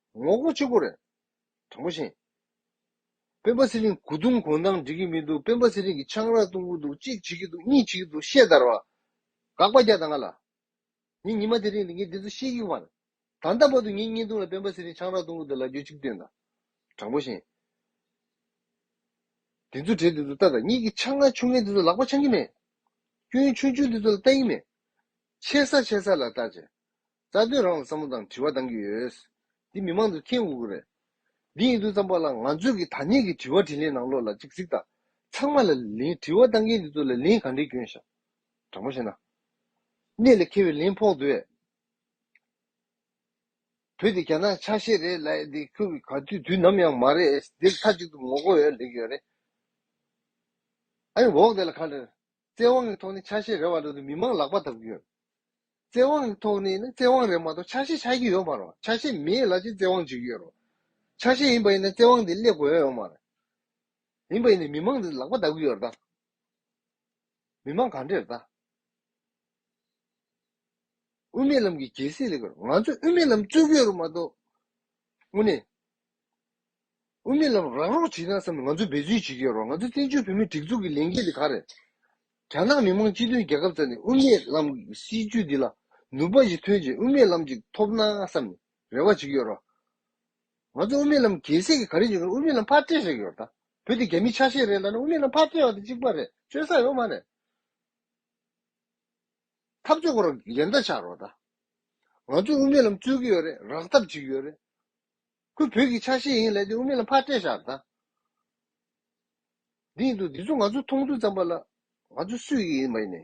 ངོ་རྒོལ་ཆེན་པོ་རེད། དྲང་པོ་བཞིན། སྤེན་པ་ཚེ་རིང་དགུ་རྡུང་གོང་ཐང་འགྲིག་གི་མི་འདུག་སྤེན་པ་ཚེ་རིང་གི་ཆང་རག་བཏུང་གི་འདུག་གཅིག་བྱེད་ཀྱི་འདུག་གཉིས་བྱེད་ཀྱི་འདུག་ཤེས་དར་བ། དགག་པ་རྒྱག་དང་ང་ལ། ངས་ཉི་མ་དེ་རིང་དུ་ངས་འདི་ཚོ་ཤེས་ཀྱི་མ་རེད། ད་ལྟ་བར་དུ་ངའི་བརྙན་ཐུང་ལ་སྤེན་པ་ཚེ་རིང་ཆང་རག་བཏུང་གི་འདུག་ལབ་རྒྱུ་གཅིག་བཏོན་དང། དྲང་པོ་བཞིན། དེ་ཚོ་གྲས་དེ་ཚོ་ལྟ་དང་གཉིས་ཀྱི་ཆང་རག་ཆུང་ངེ་དེ་ཚོ་ལག་པ་འཆང་གི་མེད། སྐྱོན་ཆུང་ཆུང་དེ་ཚོ་ལ་ལྟ་ཡི་མེད། ཆེ་ས་ཆེ་ས་ལ་ལྟ་བྱེད། རྩ་དོན་རང་ལ་བསམ་བློ་དང་དྲི་བ་གཏང་གི་ཡོད། འདི་མི་མང་དུ་ཁེངས་འུག་གི་རེད། འདི་ཡིན་དུས་ཙམ་པ་ལ་ང་ཚོས་ཀྱི་ཐ་སྙད་ཀྱི་དྲི་བ་དྲིས་ལན་ནང་ལོག་ལ་ཅིག་གཟིགས་དང། ཚང་མ་ལ་ལན་དྲི་བ་གཏང་མཁན་དེ་ཚོ་ལ་ལན་ག་འདྲའི་སྐྱོན་ཞག་དྲང་པོ་བཤད་ན། གནད་ལ་ཁེལ་བའི་ལན་ཕོག་འདུག་ཨེ། བོད་དེ་རྒྱ་ནག་ཆ་ཤས་རེད་ལ་ཨེ་འདི་ཁྱོད་ཀྱི་ག་དུས་དུས་ནམ་ཡང་མ་རེད་ཨེ་འདིར་མཐའ་གཅིག་ཏུ་ངོ་རྒོལ་ཡོད་ལེགས་ཡོད་རེད་ཨེ་འོག་དེ་ལ་ག་འདྲ། བཙན་དབང་གི་ཐོག་ནས་ཆ་ཤས་རེ་བ་རེ་དུ་མི་མང་ལག་པ་འདབ་ཀྱི་ཡོད། བཙན་དབང་གི་ཐོག་ནས་ནི་བཙན་དབང་རེད་མ་གཏོགས་ཆ་ཤས་ཆགས་ཀྱི་ཡོད་མ་རེད། ཆ་ཤས་མེད་ལ་ཅི་བཙན་དབང་བྱེད་ཀྱི་ཡོད་རེད། ཆ་ཤས་ཡིན་པ་ཡིན་ན་བཙན་དབང་དེ་སླེབས་དགོས་ཡ་ཡོད་མ་རེད། མིན་པ་ཡིན་ན་མི་མང་དེ་ལག་པ་འདབ་ཀྱི་ཡོད་རེད་ད། མི་མང་གང་འདྲས་རེད་ད། དབུ་མའི་ལམ་གྱི་རྒྱལ་སྲིད་ལེགས་པར་ང་ཚོས་དབུ་མའི་ལམ་རྩོད་ཀྱི་ཡོད་རེད་མ་གཏོགས། དངོས་གནས། དབུ་མེད་ལམ་རང་རོགས་བྱེད་ན་བསམ་ང་ཚོ་འབད་བརྩོན་བྱེད་ཀྱི་རོགས་ང་ཚོ་བཙན་བྱོལ་བོད་མིའི་སྒྲིག་འཛུགས་ཀྱི་ལས་འགན་དེ་ག་རེད་རྒྱ་ནག་མི་མང་སྤྱི་མཐུན་རྒྱལ་ཁབ་རྩ་ནས་དབུ་མེད་ལམ་གྱི་སྲིད་ཇུས་འདི་ལ་ནུབ་པ་ཞིག་ཐོན་རྗེས་དབུ་མེད་ལམ་ཅིག་ཐོབ་ན་བསམ་རེ་བ་བྱེད་ཀྱི་ཡོད་རོགས་ང་ཚོ་དབུ་མེད་ལམ་རྒྱལ་སྲས་ཀྱི་ག་རེ་བྱེད་ཀྱི་རོགས་དབུ་མེད་ལམ་ཕར་སྤྲད་ཟེར་གྱི་ཡོད་ད་བོད་དེ་རྒྱ་མིའི་ཆ་ཤས་རེད་ལབ་ན་དབུ་མེད་ལམ་ཕར་སྤྲད་བ་དེ་གཅིག་པ་རེད་བཅོས་ས་ཡོད་མ་རེད། འཐབ་རྩོད་གོ་རོགས་ཡན་ད་ཆགས་རོགས་ད་ང་ཚོ་དབུ་མེད་ལམ་རྩོད་ཀྱི་ཡོད་རེད་རག་ཐབས་བྱེད་ཀྱི་ཡོད་རེད། ཁོའི་བོད་ཀྱི་ཆ་ཤས་ཡིན་ལ་དེ་དབུ་མེད་ལ་ཕར་སྤྲད་བཞག་ད། དེ་ཡིན་དུ་འདི་ཚོ་ང་ཚོ་མཐོང་ཚུལ་ཙམ་པ་ལ། ང་ཚོ་སུ་ཡི་ཡིན་མ་ཡིན།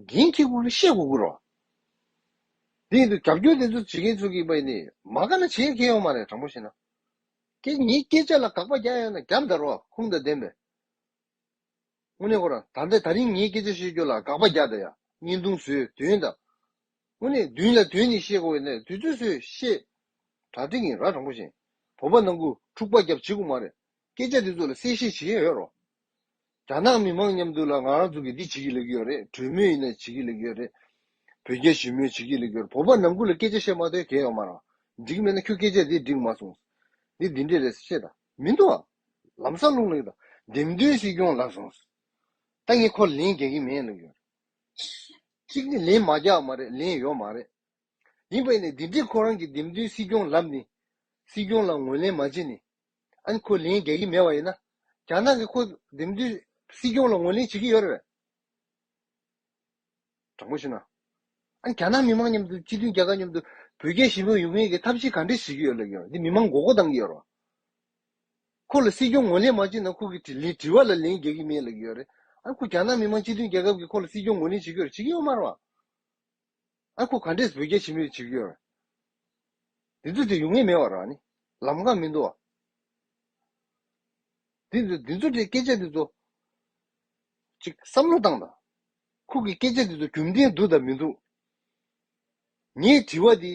འགན་འཁྱེར་དགོས་ཀི་ཤེས་དགོས་ཀི་རོ། དེ་ཡིན་དུ་རྒྱབ་སྐྱོར་དེ་ཚོ་བྱེད་མཁན་ཚོ་གི་མ་ཡིན། མ་ག་ན་བྱེད་མཁན་ཡོང་མ་རེད་དྲང་པོ་བཤད་ན། ཁྱེད་ངའི་སྐད་ཆ་ལ་དགག་པ་རྒྱག་ཡོང་ན་རྒྱབ་འདར་བ་ཁུངས་དང་ལྡན་པས། དངོས་གནས་ཁོ་རང་ད་ལྟ་ད་རིང་ངའི་སྐད་ཆ་བཤད་རྒྱུ་ལ་དགག་པ་རྒྱག་ད་ཡ་བརྙན་ཐུང་བཟོས་དོན་དང། སྔོན་ནས་བདུན་ལ་དོན་ནི་ཤེས་དགོས་ནས་དུས་ཚོད་སུས་ཤེས། གྲ་སྒྲིག་ཡིན་ར་དྲང་པོ་བཞིན། བོད་པ་ནང་ཁུལ་འཁྲུག་པ་རྒྱབ་བྱེད་ཁུ་མ་རེད། སྐད་ཆ་འདི་ཚོ་ལ་གསལ་བཤད་བྱེད་མཁན་ཡོད་རོགས། རྒྱ་ནག་མི་མང་མཉམ་དུ་ལ་ང་རང་ཚོ་གི་འདི་བྱེད་ཀྱི་ལེགས་ཡོད་རེད་གྲོས་མོལ་ཡིན་ན་བྱེད་ཀྱི་ལེགས་ཡོད་རེད། བོད་རྒྱ་ཞི་མོལ་བྱེད་ཀྱི་ལེགས་ཡོད་བོད་པ་ནང་ཁུལ་ལ་སྐད་ཆ་བཤད་མ་ཐོན་གལ་ཡོང་མ་རང། འགྲིག་མེད་ན་ཁྱོད་སྐད་ཆ་འདི་འགྲིག་མ་སོང། འདི་འདི་འདྲས་རེད་ཤེས་དང་མི་འདུག་ཨ། ལམ་སང་ལུང་ལེགས་དང་འདེམས་ཐོན་སྲིད་སྐྱོང་ལབ་སོང། ད་ངས་ཁོ་ལ་ལན་རྒྱག་གི་མེད་ལེགས་ཡོད་རེད། གཅིག་ནི་ལན་མ་རྒྱག་མ་རེད་ལན་ཡོད་མ་རེད། ཡིན་པས་ནི་འདི་འདྲའི་ཁོ་རང་གི་འདེམས་ཐོན་སྲིད་སྐྱོང་ལབ་ནི། སྲིད་སྐྱོང་ལ་ངོས་ལེན་མ་བྱེད་ནི། ཨཱ་ཁོ་ལན་རྒྱག་གི་མེད་པ་ཡིན་ན། རྒྱ་ནག་གི་ཁོ་འདེམས་ཐོན་སྲིད་སྐྱོང་ལ་ངོས་ལེན་བྱེད་ཀྱི་ཡོད་རེད་བས། དྲང་པོ་ཞུ་ན། ཨཱ་རྒྱ་ནག་མི་མང་མཉམ་དུ་སྤྱི་མཐུན་རྒྱལ་ཁབ་མཉམ་དུ་བོད་རྒྱའི་ཞི་མོལ་ཡོང་མིན་གྱི་ཐབས་ཤེས་ག་འདྲེ་བྱེད་ཀྱི་ཡོད་ལབ་ཀྱི་ཡོད་རེད་འདི་མི་མང་མགོ་སྐོར་གཏང་གི་ཡོད་རེད་བ། ཁོ་ལ་སྲིད་སྐྱོང་ངོས་ལེན་མ་བྱེད་ན་ཁོ་གི་དྲི་ལན་དྲི་བ་ལ་ལན་རྒྱག་གི་མེད་ལ་ཡོད་རེད་ཨ་ཁོ་རྒྱ་ནག་མི་དམངས་སྤྱི་མཐུན་རྒྱལ་ཁབ་ཀྱི་ཁོ་ལ་སྲིད་སྐྱོང་ངོས་ལེན་བྱེད་རྒྱུར་བྱེད་ཀྱི་ཡོད་མར་བ། ཨ་ཁོ་ག་འདྲས་བོད་རྒྱ་ཞི་མོལ་བྱེད་རྒྱུར། དེ་ཚོ་དེ་ཡོང་ངེས་མེད་བ་ར་ནི་ལམ་ཁ་མི་འདུག་བ། དེ་ཚོ་དེ་ཚོ་དེ་སྐད་ཆ་དེ་ཚོ། ཅིག་བསམ་བློ་བཏང་དང། ཁོ་གི་སྐད་ཆ་དེ་ཚོ་རྒྱུ་མཐན་འདུག་དང་མི་འདུག། ངའི་དྲི་བ་དེ།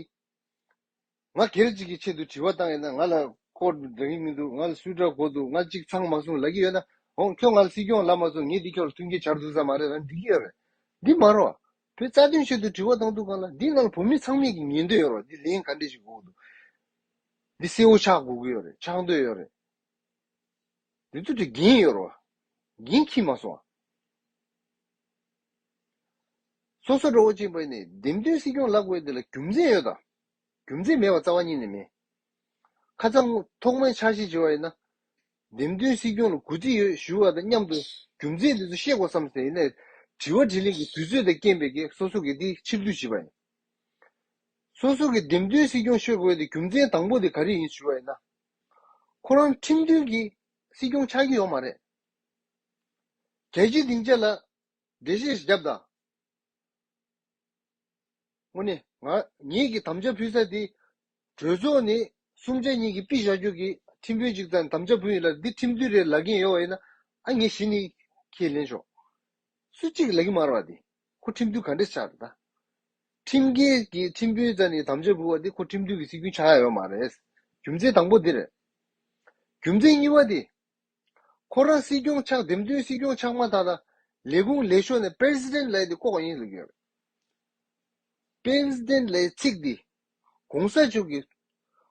ང་སྒེར་གཅིག་གི་ཆེད་དུ་དྲི་བ་བཏང་ཡོད་ན་ང་ལ་སྐོར་འདྲ་གི་མི་འདུག་ང་ལ་སུས་དྲ་གོ་འདུག་ང་གཅིག་ཚང་མ་གསུང་ལ་གི་ཡོད་ན་འོང་ཁྱོད་ང་ལ་སྲིད་སྐྱོང་ལབ་མ་སོང་ངས་འདི་ཁྱོད་ལ་མཐུན་རྐྱེན་བྱར་འདུག་ས་མ་རེད་རང་འགྲིག་གི་ཡོད་རེད་འདི་མ་རོ། བུ་རྩ་དོན་ཆེད་དུ་དྲི་བ་བཏང་འདུག་ག་ལ་འདི་ནང་ལ་བོད་མི་ཚང་མས་གི་ཉན་འདོད་ཡོད་རོ་འདི་ལན་ག་འདྲས་ཞིག་འགུག་འདུག་འདི་གསལ་བོ་ཆགས་དགོས་གི་ཡོད་རེད་ཆགས་འདོད་ཡོད་རེད་འདི་ཚོ་དྲི་འགན་ཡོད་རོ་འགན་ཁྱི་མ་སོང། སོ་སོ་དྲ་བ་ཅན་པ་ཡིན་ནས་འདེམས་ཐོན་སྲིད་སྐྱོང་ལབ་དགོས་འདི་ལ་རྒྱུ་མཚན་ཡོད་དམ། རྒྱུ་མཚན་མེད་པར་རྩ་བ་གཉིས་ནས་མེད། ཁ་ཚང་ཐོག་མའི་འཆར་གཞི་བྱེད་པ་ཡིན་ན། འདེམས་ཐོན་སྲིད་སྐྱོང་ལ་གུས་བརྩི་ཡོད་ཞུ་བ་དང་མཉམ་དུ་རྒྱུ་མཚན་དེ་ཚོ་ཤེས་དགོས་བསམ་ཟིན་ཡིན་ན། དྲི་བ་དྲིས་ལན་གྱི་དུས་ཚོད་དང་རྐྱེན་པས་ཀྱི་སོ་སོ་གིས་དེ་ཕྱིར་བསྡུ་བྱེད་པ་ཡིན། སོ་སོ་གིས་འདེམས་ཐོན་སྲིད་སྐྱོང་ཤོད་དགོས་དེ་རྒྱུ་མཚན་དང་པོ་དེ་ག་རེ་ཡིན་ཞུ་བ་ཡིན་ན། ཁོ་རང་ཁྲིམས་མཐུན་གྱི་སྲིད་སྐྱོང་ཆགས་ཀྱི་ཡོད་མ་རེད། གལ་ཆེ་སྡིངས་ཆ་ལ་འགྲེལ་བཤད་བརྒྱབ་དང། སྔོན་ནི། ངེད་ཀྱིས་དམ་བཅའ་ཕུལ་ས་དེ། གྲོས་ཚོགས་ནས་གསུམ་ཆ་གཉིས་ཀྱིས་དཔེ་བཞག་རྒྱུ་གི་ཁྲིམས་དཔོན་གཅིག་དང་དམ་བཅའ་བུན་ཡོད་ལ་འདི་ཁྲིམས་མཐུན་རེད་ལབ་ཀྱིན་ཡོད་བ་ཡིན་ན་ཨ་ངེད་གཞི་ནས་ཁས་ལེན་ཆོག། སུ་གཅིག་ལབ་ཀྱིན་མ་རེད་བ་དེ་ཁོ་ཁྲིམས་མཐུན་ག་འདྲས་ཆགས་ད། ཁྲིམས་འགལ་གྱི་ཁྲིམས་དཔོན་རྩ་ནས་དམ་བཅའ་བུལ་བ་དེ་ཁོ་ཁྲིམས་མཐུན་གྱི་སྲིད་རྒྱུན་ཆགས་ཡོད་མ་རེད། རྒྱུ་མཚན་དང་པོ་འདི་རེད། རྒྱུ་མཚན་གཉིས་པ་དེ། ཁོ་རང་སྲིད་སྐྱོང་ཆགས་འདེམས་ཐོན་སྲིད་སྐྱོང་ཆགས་མ་ཐག་ལ་ལས་ཁུངས་ལས་ཤོར་ནས president ལས་དེ་ལྐོག་ཡིན་ཟེར་གྱི་ཡོད། president ལས་ཚིག་འདི ྋགོང་ས་མཆོག་གི་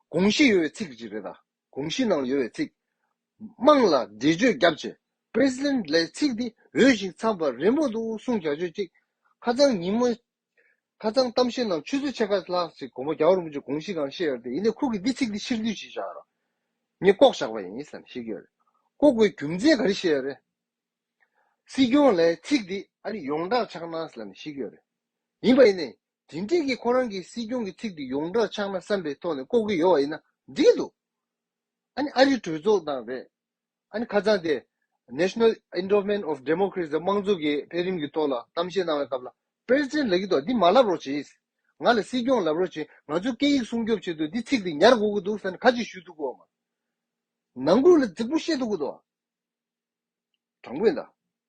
དགོངས་གཞི་ཡོད་པའི་ཚིག་ཅིག་རེད་ད་དགོངས་གཞི་ནང་ལ་ཡོད་པའི་ཚིག་དམངས་ལ་འགྲེལ་བརྗོད་རྒྱབ་ཆེད president ལས་ཚིག་འདི་འོས་ཤིང་འཚམས་པ་རིན་པོ་འདུག་གསུང་བྱ་སྤྱོད་ཅིག་ཧ་ཅང་ཉིན་མོ་ཁ་ཚང་གཏམ་བཤད་ནང་ཆུ་ཚོད་ཕྱེད་ཀ་ལྷག་ཅིག་དགོངས་པ་རྒྱ་གར་རིན་པོ་ཆེ་དགོངས་གཞི་གང་བཤད་ཡོད་དེ་ཡིན་ནའི་ཁུག་གིས་འདི་ཚིག་འདི་ཕྱིར་བསྡུས་བྱེད་བཞག་རོགས། ངས་ལྐོག་བཞག་པ་ཡིན་ཟེར་ན་ཤེས་ཀྱི་ཡོད་རེད། ལྐོག་དགོས་རྒྱུ་མཚན་ག་རེ་བཤད་ཡོད་རེད། སྲིད་སྐྱོང་ལས་ཚིག་འདི་ཨ་རི་ཡོངས་གྲགས་ཆགས་ན་ཟེར་ན་ཤེས་ཀྱི་ཡོད་རེད། ཡིན་པ་ཡིན་ནའི་དེ་འགྲིག་གི་ཁོ་རང་གིས་སྲིད་སྐྱོང་གི་ཚིག་འདི་ཡོངས་གྲགས་ཆགས་ན་བསམ་པའི་ཐོག་ནས་ལྐོག་གི་ཡོད་བ་ཡིན་ན་འགྲིག་གི་འདུག། ཨ་ནི་ཨ་རི་གྲོས་ཚོགས་དང་རེད། ཨ་ནི་ཁ་སང་སྟེ། National Endowment of Democracy། དམངས་གཙོ་གི་འཕེལ་རིམ་གྱི་ཐོག་ལ་གཏམ་བཤད་གནང་བའི་སྐབས་ལ། President ལགས་ཀྱིས་ཏོ་འདི་མ་ལབ་རོགས་བྱས། ང་ལ་སྲིད་སྐྱོང་ལབ་རོགས་བྱས་ང་ཚོའི་སྐད་ཡིག་སྲུང་སྐྱོབ་ཆེད་དུ་འདི་ཚིག་འདི་ཉར་དགོས་ཀྱི་འདུག་ས་ནི་ཁ་ཅིག་ཞུས་འདུག་གོ། ནང་ཁུལ་ལ་རྫིག་པོ་བཤད་འདུག་གི་ཏོ། དྲང་པོ་ཡིན་ད།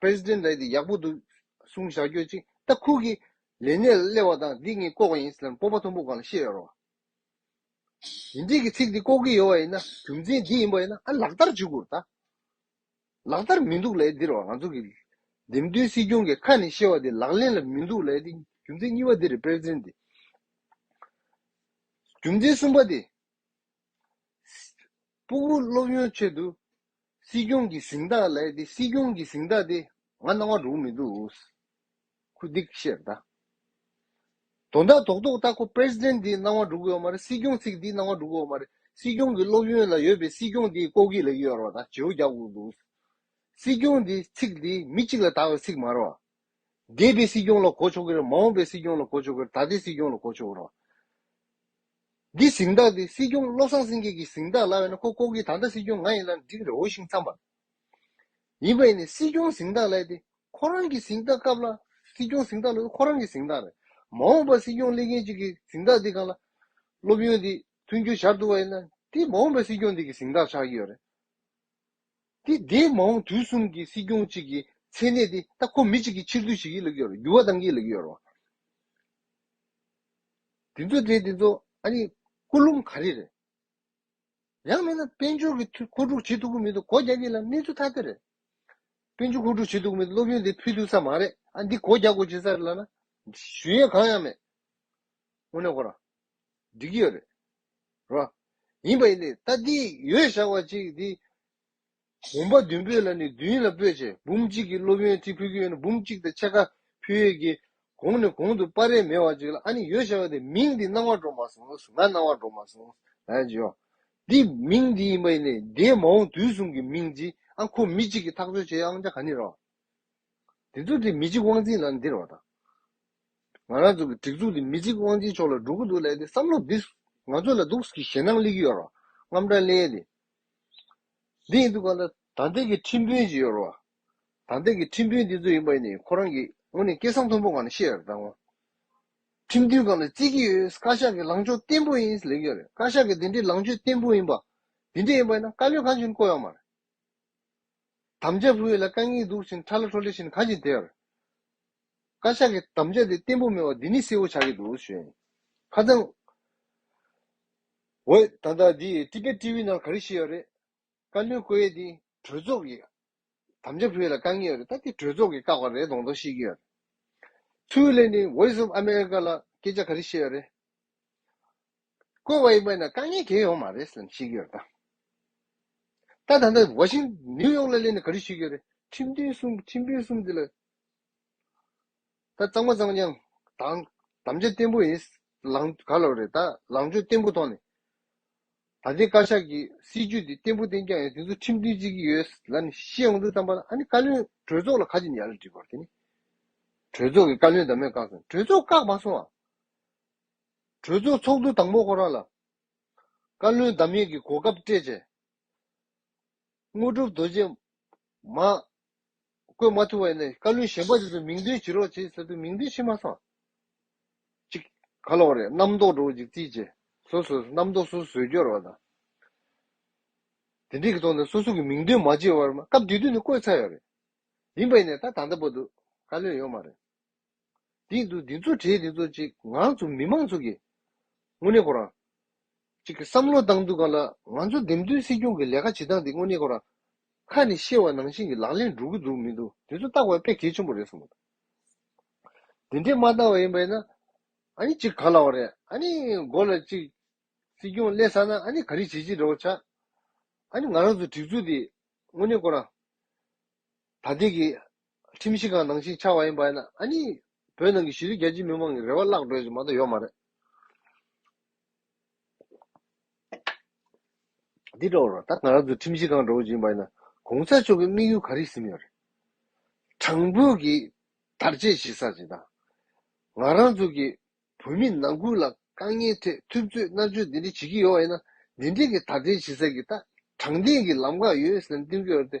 president ལ་དེ་ཡག་པོ་འདུག་གསུང་བཞག་རྒྱུ་གཅིག་ད་ཁུག་གི་ལས་གནས་ལ་སླེབས་བ་དང་འདི་ངས་ལྐོག་པ་ཡིན་ཟེར་ན་སྤོབས་པ་མཐོན་པོ་གང་ལ་ཤེས་ཡོད་རོགས། ཞི་འགྲིག་གི་ཚིག་འདི་ལྐོག་གི་ཡོད་བ་ཡིན་ན་རྒྱུ་མཚན་འདི་ཡིན་པ་ཡིན་ན་ཨ་ལག་བསྟར་བྱེད་དགོས་རེད་ད། ལག་བསྟར་མི་འདུག་ལས་འདིར་བ་ང་ཚོ་གི་འདེམས་ཐོན་སྲིད་སྐྱོང་གི་ཁ་ནས་བཤད་བ་འདི་ལག་ལེན་ལ་མི་འདུག་ལས་འདི་རྒྱུ་མཚན་གཉིས་པ་འདི་རེད president འདི་རྒྱུ་མཚན་གསུམ་པ་འདི་སྤུག་བུ་སློབ་ཡོན་ཆེད་དུ། སྲིད་སྐྱོང་གི་གཟིངས་རྟགས་ལས་དེ་སྲིད་སྐྱོང་གི་གཟིངས་རྟགས་དེ་ང་གནང་བ་འགྲུག་མི་འདུག་ཨུས། ཁུ་སྡིག་བཤད་གདའ། དོ་བདག་དོག་དོག་ལྟ་ཁོ president དེ་གནང་བ་འགྲུག་གི་ཡོད་མ་རེད་སྲིད་སྐྱོང་ཚིག་དེ་གནང་བ་འགྲུག་གི་ཡོད་མ་རེད་སྲིད་སྐྱོང་གི་སློབ་ཡོན་ལ་ཡོད་པའི་སྲིད་སྐྱོང་དེ་ལྐོག་གྱི་ལེགས་ཡོད་ར་བ་དང་བྱེའུ་རྒྱག་དགོས་འདུག་ཨུས། སྲིད་སྐྱོང་དེ་ཚིག་དེ་མི་གཅིག་ལ་དག་པའི་ཚིག་མ་ར་བ། འདས་པའི་སྲིད་སྐྱོང་ལ་གོ་ཆོག་གི་རེད་མ་འོངས་པའི་སྲིད་སྐྱོང་ལ་གོ་ཆོག་གི་རེད་ད་ལྟའི་སྲིད་སྐྱོང་ལ་གོ་ཆོག་གི་རེད། འདི་གཟེངས་རྟགས་འདི་སྲིད་སྐྱོང་བློ་བཟང་སེང་གེ་གི་གཟེངས་རྟགས་ལབ་ཡ་ན་ཁོ་ལྐོག་གི་ད་ལྟ་སྲིད་སྐྱོང་ང་ཡིན་ལབ་ན་འགྲིག་གི་རེད་འོ་ཤིང་འཚམས་པ། ཡིན་པ་ཡིན་ནའི་སྲིད་སྐྱོང་གཟེངས་རྟགས་ལབ་དེ་ཁོ་རང་གི་གཟེངས་རྟགས་སྐབས་ལ་སྲིད་སྐྱོང་གཟེངས་རྟགས་ལོས་ཁོ་རང་གི་གཟེངས་རྟགས་རེད་མ་འོངས་པ་སྲིད་སྐྱོང་སླེབས་མཁན་གཅིག་གི་གཟེངས་རྟགས་འདི་གང་ལ་སློབ་ཡོན་འདི་མཐུན་འགྱུར་བྱར་འདུག་པ་ཡིན་ན་དེ་མ་འོངས་པའི་སྲིད་སྐྱོང་འདི་གི་གཟེངས་རྟགས་ཆགས་ཀྱི་ཡོད་རེད། དེ་འདས་མ་འོངས་དུས་གསུམ་གྱི་སྲིད་སྐྱོང་གཅིག་གི་མཚན་གནས་དེ་ད་ཁོ་མི་གཅིག་གི་ཕྱིར་དུ་ཞིག་གིས་ལེགས་ཡོད་རོ་འགྱུར་བ་དང་གིས་ལེགས་ཡོད་རོ། དེ་ཚོ་དེ་དེ་ཚོ་ཨ་ནི་སྐུ་ལུམ་ག་རེ་རེད། ཡང་མེད་ན་དཔལ་འབྱོར་གྱི་ཐུགས་ཁོ་དྲུག་བྱེད་ཐུབ་ཀྱི་མི་འདུག་གོ་རྒྱ་གྱིས་ལ་གནས་ཚུལ་ཐ་དད་རེད། དཔལ་འབྱོར་ཁོ་དྲུག་བྱེད་ཐུབ་ཀྱི་མི་འདུག་སློབ་ཡོན་དེ་ཕུལ་ཐུབ་ས་མ་རེད་ཨ་འདི་གོ་རྒྱ་གོ་བྱེད་ས་རེད་ལ་ན། ཞུ་ཡས་གང་ཡང་མེད། དངོས་གནས་གོ་ར། འགྲིག་གི་ཡོད་རེད་ར། ཡིན་པ་ཡིན་ཏེ་ད་འདི་ཡོད་བཞག་པ་ཅིག་འདི། གོམ་པ་བདུན་པོས་ལ་ནི་བདུན་ལ་སྤོས་བྱས་འབུམ་གཅིག་གི་སློབ་ཡོན་ཏི་ཕུལ་གྱི་ཡོད་ན་འབུམ་གཅིག་དང་ཕྱེད་ཀ་ཕུལ་ཡོད་ཀྱི། གོང་ནས་གོང་དུ་པར་རེས་མེད་བ་ཅིག་ལ་ཨ་ནི་ཡོད་བཞག་པ་འདི་མིང་འདི་སྣང་བ་འགྲོ་མ་སོང་ང་སྣང་བ་འགྲོ་མ་སོང་ཨེ་ཇོ། འདི་མིང་འདི་ཡིན་པ་ཡིན་ནས་འདིའི་མ་འོངས་དུས་གསུམ་གྱི་མིང་འདི་ཨང་ཁོ་མི་གཅིག་གིས་ཐག་གཅོད་བྱས་ཨང་ཅག་ག་ནི་ར། འདི་ཚོ་འདི་མི་གཅིག་དབང་འཛིན་ལ་ནི་འདི་ར་བ་དང། ང་རང་ཚོ་གི་སྒྲིག་འཛུགས་འདི་མི་གཅིག་དབང་ཆེན་མཆོག་ལ་སྒྲུབ་ཀྱི་འདུག་ལས་དེ་བསམ་བློ་འདིས་ང་ཚོ་ལ་སྡུགས་ཀྱི་ཞེད་སྣང་གླེགས་ཀྱི་ཡོད་རོ་རྔམ་སྐྲག་གླེགས་ཏེ་འདི་ཡིན་འདུག་ག་ལ་དང་འདི་གི་ཁྲིམས་དཔོན་ཅིག་ཡོད་རོ་དང་འདི་གི་ཁྲིམས་དཔོན་འདི་ཚོ་ཡིན་པ་ནི་ཁོ་རང་གིས་ངོ་ནས་སྐད་གསང་མཐོན་པོ་གང་ནས་ཤེས་དང་ངོ། ཁྲིམས་མཐུན་གང་ལ་བརྩི་གི་ཡོད་བཀའ་ཤག་གི་ལངས་ཕྱོགས་བརྟན་པོ་ཡིན་ལེགས་ཡོད་རེད་བཀའ་ཤག་གི་འདི་འདྲའི་ལངས་ཕྱོད་བརྟན་པོ་ཡིན་པ་འདི་འདྲ་ཡིན་པ་ཡིན་ན་བཀའ་བློན་གང་བྱུང་ནས་བསྐོ་ཡོང་མ་རེད། དམ་བཅའ་བུ་ཡིག་ལ་རྐང་གཉིས་འདུག་ཅིང་ཁྲ་ལ་ཁྲོ་ལེ་བཞིན་གང་ཅི་བདེར། བཀའ་ཤག་གི་དམ་བཅའ་དེ་བརྟན་པོ་མིན་བ་འདི་ནི་གསལ་བོ་ཆགས་ཀྱི་འདུག་ཞུས། ཁ་ཚང། འོ། ད་ལྟ་འདི་ཀྲི་པེ་ཀྲི་བྷི་ནང་ག་རེ་བཤད་ཡོད་རེད། བཀའ་བློན་བསྐོ་ཡས་འདི་གྲོས་ཚོགས་ཀྱི་དམ་བཅའ་བུ་ཡིག་ལ་རྐང་གཉིས་ཡོད་རེད་ད་འདི་གྲོས་ཚོགས་ཀྱི་བཀག་པ་རེད་གདོང་མདོག་བཤད་ཀྱི་ཡོད། ཚུལ་ལས་ནི Voice of America ལ་སྐད་ཆ་ག་རེ་བཤད་ཡོད་རེད། བཀོལ་བ་ཡིན་པ་ན་དཀའ་ངལ་འགེལ་ཡོང་མ་རེད་བསམ་ཤེས་ཀྱི་ཡོད་དམ། ད་ད་ནི་བ་ཤིང་ནིའུ་ཡོག་ལ་སླེབས་ནས་ག་རེ་ཞུས་ཀྱི་རེད་ཁྲིམས་དོན་གསུམ་ཁྲིམས་དཔོན་གསུམ་དེ་ལ་ད་གཙང་མ་གཙང་ཀྱང་དང་དམ་བཅའ་བརྟན་པོ་ཡིན་ལང་ག་ལོག་རེད་ད་ལང་ཕྱོགས་བརྟན་པོ་ཐོག་ནས་ད་ལྟའི་བཀའ་ཤག་གི་སྲིད་ཇུས་འདི་བརྟན་པོ་བརྟན་ཀྱང་ཡང་དེ་ཚོ་ཁྲིམས་མཐུན་བརྩི་གི་ཡོད་ལ་ནི་ཤེས་འོང་དུ་བསམ་པ་ན་ཨ་ནི་བཀའ་བློན་གྲོས་ཚོགས་ལ་ཁ་ཆེམས་ཡག་ལ་འདྲི་དགོས་རེད་དེ་ནི་གྲོས་ཚོགས་ཀྱི་བཀའ་བློན་དང་མེད་བཀག་སོང་གྲོས་ཚོགས་བཀག་མ་སོང་ཨ། གྲོས་ཚོགས་ཚོགས་འདུ་དང་པོ་ཧོ་ར་ལ། བཀའ་བློན་འདམ་ཡེ་གི་གོ་སྐབས་སྤྲད་རྗེས། དངོས་གྲུབ་རྡོ་རྗེས། མ། བསྐོས་མ་ཐུབ་པ་ཡིན་ན་བཀའ་བློན་གཞན་པ་དེ་ཚོ་མིང་འདོན་བྱེད་རོགས་བྱེད་ཟེར་དུས་མིང་འདོན་བྱེད་མ་སོང། ཅིག། ག་ལ་བ་རེད་རྣམ་རྟོག་འགྲོ་བ་ཅིག་རྩིས་བྱས། སོ་སོས་རྣམ་རྟོག་སོ་སོས་སྐྱོར་བ་དང། དེ་འདྲས་ཀྱི་ཐོག་ནས་སོ་སོ་གི་མིང་འདོན་མ་བྱས་བར་སྐབས་དེ་དུས་ནས་བསྐོས་ཚར་ཡོད་རེད། ཡིན་པ་ཡིན་ན་ད་ད་ལྟ་བར་དུ་བཀའ་བློན་ཡོད་མ་རེད། འདི་འདུག་འདི་ཚོ་གྲས་འདི་ཚོ་ཅིག་ང་ཚོ་མི་མང་ཚོ་གིས་དངོས་གནས་ཁོ་རང་ཅིག་བསམ་བློ་བཏང་འདུག་ག་ལ་ང་ཚོ་འདེམས་ཐོན་སྲིད་སྐྱོང་གི་ལས་ཀ་བྱེད་སྟངས་འདི་དངོས་གནས་ཁོ་རང་ཁ་ནས་བཤད་བ་ནང་བཞིན་གྱི་ལག་ལེན་འགྲོ་གི་འདུག་མི་འདུག་འདི་ཚོ་བཏགས་པ་དཔེ་གལ་ཆེན་པོ་རེད་བསམ་མོད། འདི་འདྲས་མ་བཏགས་བ་ཡིན་པས་ན་ཨ་ནི་ཅིག་ག་ལ་བ་རེད་ཨ་ནི་མགོ་ལ་ཅིག་སྲིད་སྐྱོང་སླེབས་ས་ན་ཨ་ནི་ག་རེ་བྱེད་ཅི་འདྲ་བོ་བྱ་ཨ་ནི་ང་རང་ཚོ་སྒྲིག་འཛུགས་འདི་དངོས་གནས་ཁོ་རང་ད་ལྟའི་གི་ཁྲིམས་གཞི་གང་ནང་བཞིན་ཆགས་པ་ཡིན་པ་ཡིན་ན་ཨ་ནི། བོད་ནང་གི་གཞི་རིགས་རྒྱལ་སྤྱིའི་མི་མང་གི་རེ་བ་བརླག་འགྲོ་ཡི་མ་གཏོགས་ཡོད་མ་རེད། འདི་འདྲ་བོ་རེད། ད་ང་རང་ཚོ་ཁྲིམས་གཞི་གང་འདྲ་བོ་ཞིག་ཡིན་པ་ཡིན་ན། གོང་ས་མཆོག་གི་དམིགས་ཡུལ་ག་རེ་ཟིན་ཡོད་རེད། དྲང་བོད་ཀྱི་དར་རྒྱས་བྱེད་ས་ཞིག་དང། ང་རང་ཚོ་གི་བོད་མི་ནང་ཁུལ་ལ་དཀའ་ངལ་ཐད་ཐུབ་ཚོད་མནར་གཅོད་འདི་འདྲ་བྱེད་ཀྱི་ཡོད་པ་ཡིན་ན། འདི་འདྲའི་གི་དར་རྒྱས་བྱེད་ས་གི་ད་དྲང་བདེན་གི་ལམ་ག་ཡོད་ཟེར་ན་གཏིང་རྒྱུ་རེད་དེ།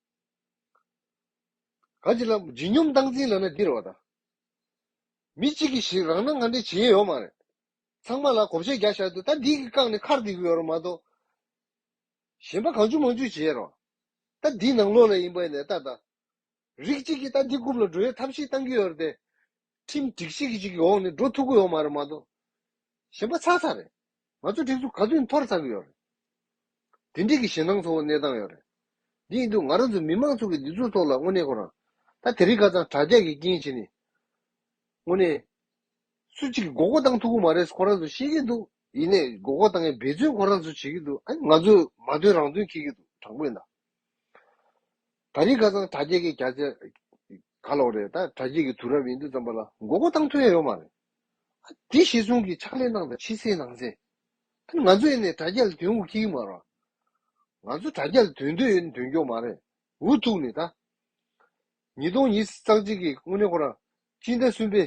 གང་ཅི་ལ། བརྗིད་སྙོམས་སྟངས་འཛིན་ལགས་ན་འདི་རེད་བ་ད། མི་གཅིག་གིས་ཞིག་རང་ན་ང་འདྲའི་བྱེད་ཡས་ཡོག་མ་རེད། ཚང་མ་ལ་གོ་བྱེད་རྒྱག་ཤག་ཏུ་ད་འདི་གི་བཀག་ནས་ཁར་འདི་གི་ཡོག་རོགས་མ་གཏོགས། གཞན་པ་གང་བྱུང་མང་བྱུང་བྱེད་ཡས་རོགས། ད་འདི་ནང་ལོག་ལ་ཡིན་པ་ནས་ད་ད། རིགས་གཅིག་གིས་ད་འདི་རྐུབ་ལ་འགྲོ་ཡས་ཐབས་ཤིག་བཏང་གི་ཡོག་རེད་དེ། ཁྲིམས་སྒྲིག་ཤིག་གིས་ཅིག་གི་འོག་ནས་འགྲོ་ཐུབ་གི་ཡོག་མ་རེད་མ་གཏོགས། གཞན་པ་ཚག་ཚག་རེད། ང་ཚོ་གྲིབ་གཟུགས་ག་ཚོད་འཐོར་ཚར་གི་ཡོད་རེད། དེ་འགྲིག་གི་ཞེད་སྣང་ཚོ་བོ་གནས་སྟངས་ཡོད་རེད། དེ་ཡིན་དུས་ང་རང་ཚོ་མི་མང་ཚོ་གི་འདི་ཚོའི་ཐོག་ལ་དངོས་གནས་ཁོ་རང། ད་དེ་རིགས་ཁ་ཚང་དྲག་རྒྱག་གི་རྐྱེན་བྱེད་ནི། དངོས་གནས། སུ་གཅིག་གི་མགོ་སྐོར་བཏང་ཐུབ་གི་མ་རེད་ཁོ་རང་ཚོ་ཤེས་ཀྱི་འདུག་ཡིན་ནས་མགོ་སྐོར་བཏང་མཁན་འབད་བརྩོན་ཁོ་རང་ཚོ་བྱེད་ཀྱི་འདུག་ཨ་ང་ཚོས་མ་འདོན་རང་འདོན་ཁེལ་གྱི་འདུག་དྲང་པོས་ན། ད་རིགས་ཁ་ཚང་དྲག་རྒྱག་གི་ག་ཚད། ག་ལོག་རེད་ད་དྲག་རྒྱག་གི་དུས་རབས་ཡིན་དུས་ཙམ་པ་ལ་མགོ་སྐོར་བཏང་ཐུབ་ཡ་ཡོད་མ་རེད། དེ་ཞེས་གསུང་གི་ཕྱག་ལེན་གནང་དང་ཕྱི་གསལ་ནང་གསལ། ད་ནི་ང་ཚོ་ཡེ་ནས་དྲ་རྒྱ་ལ་དོན་འུ་གིང་མ་རོགས། ང་ཚོ་དྲ་རྒྱ་ལ་དོན་འདོད་ཡོད་ནི་དོན་སྐྱོང་མ་རེད། འུ་ཐུག་ནས་ད། ཉིས་སྟོང་ཉིས་བརྩག་གཅིག་གི་དངོས་གནས་ཁོ་རང་སྤྱིན་ཟླ་གསུམ་པའི་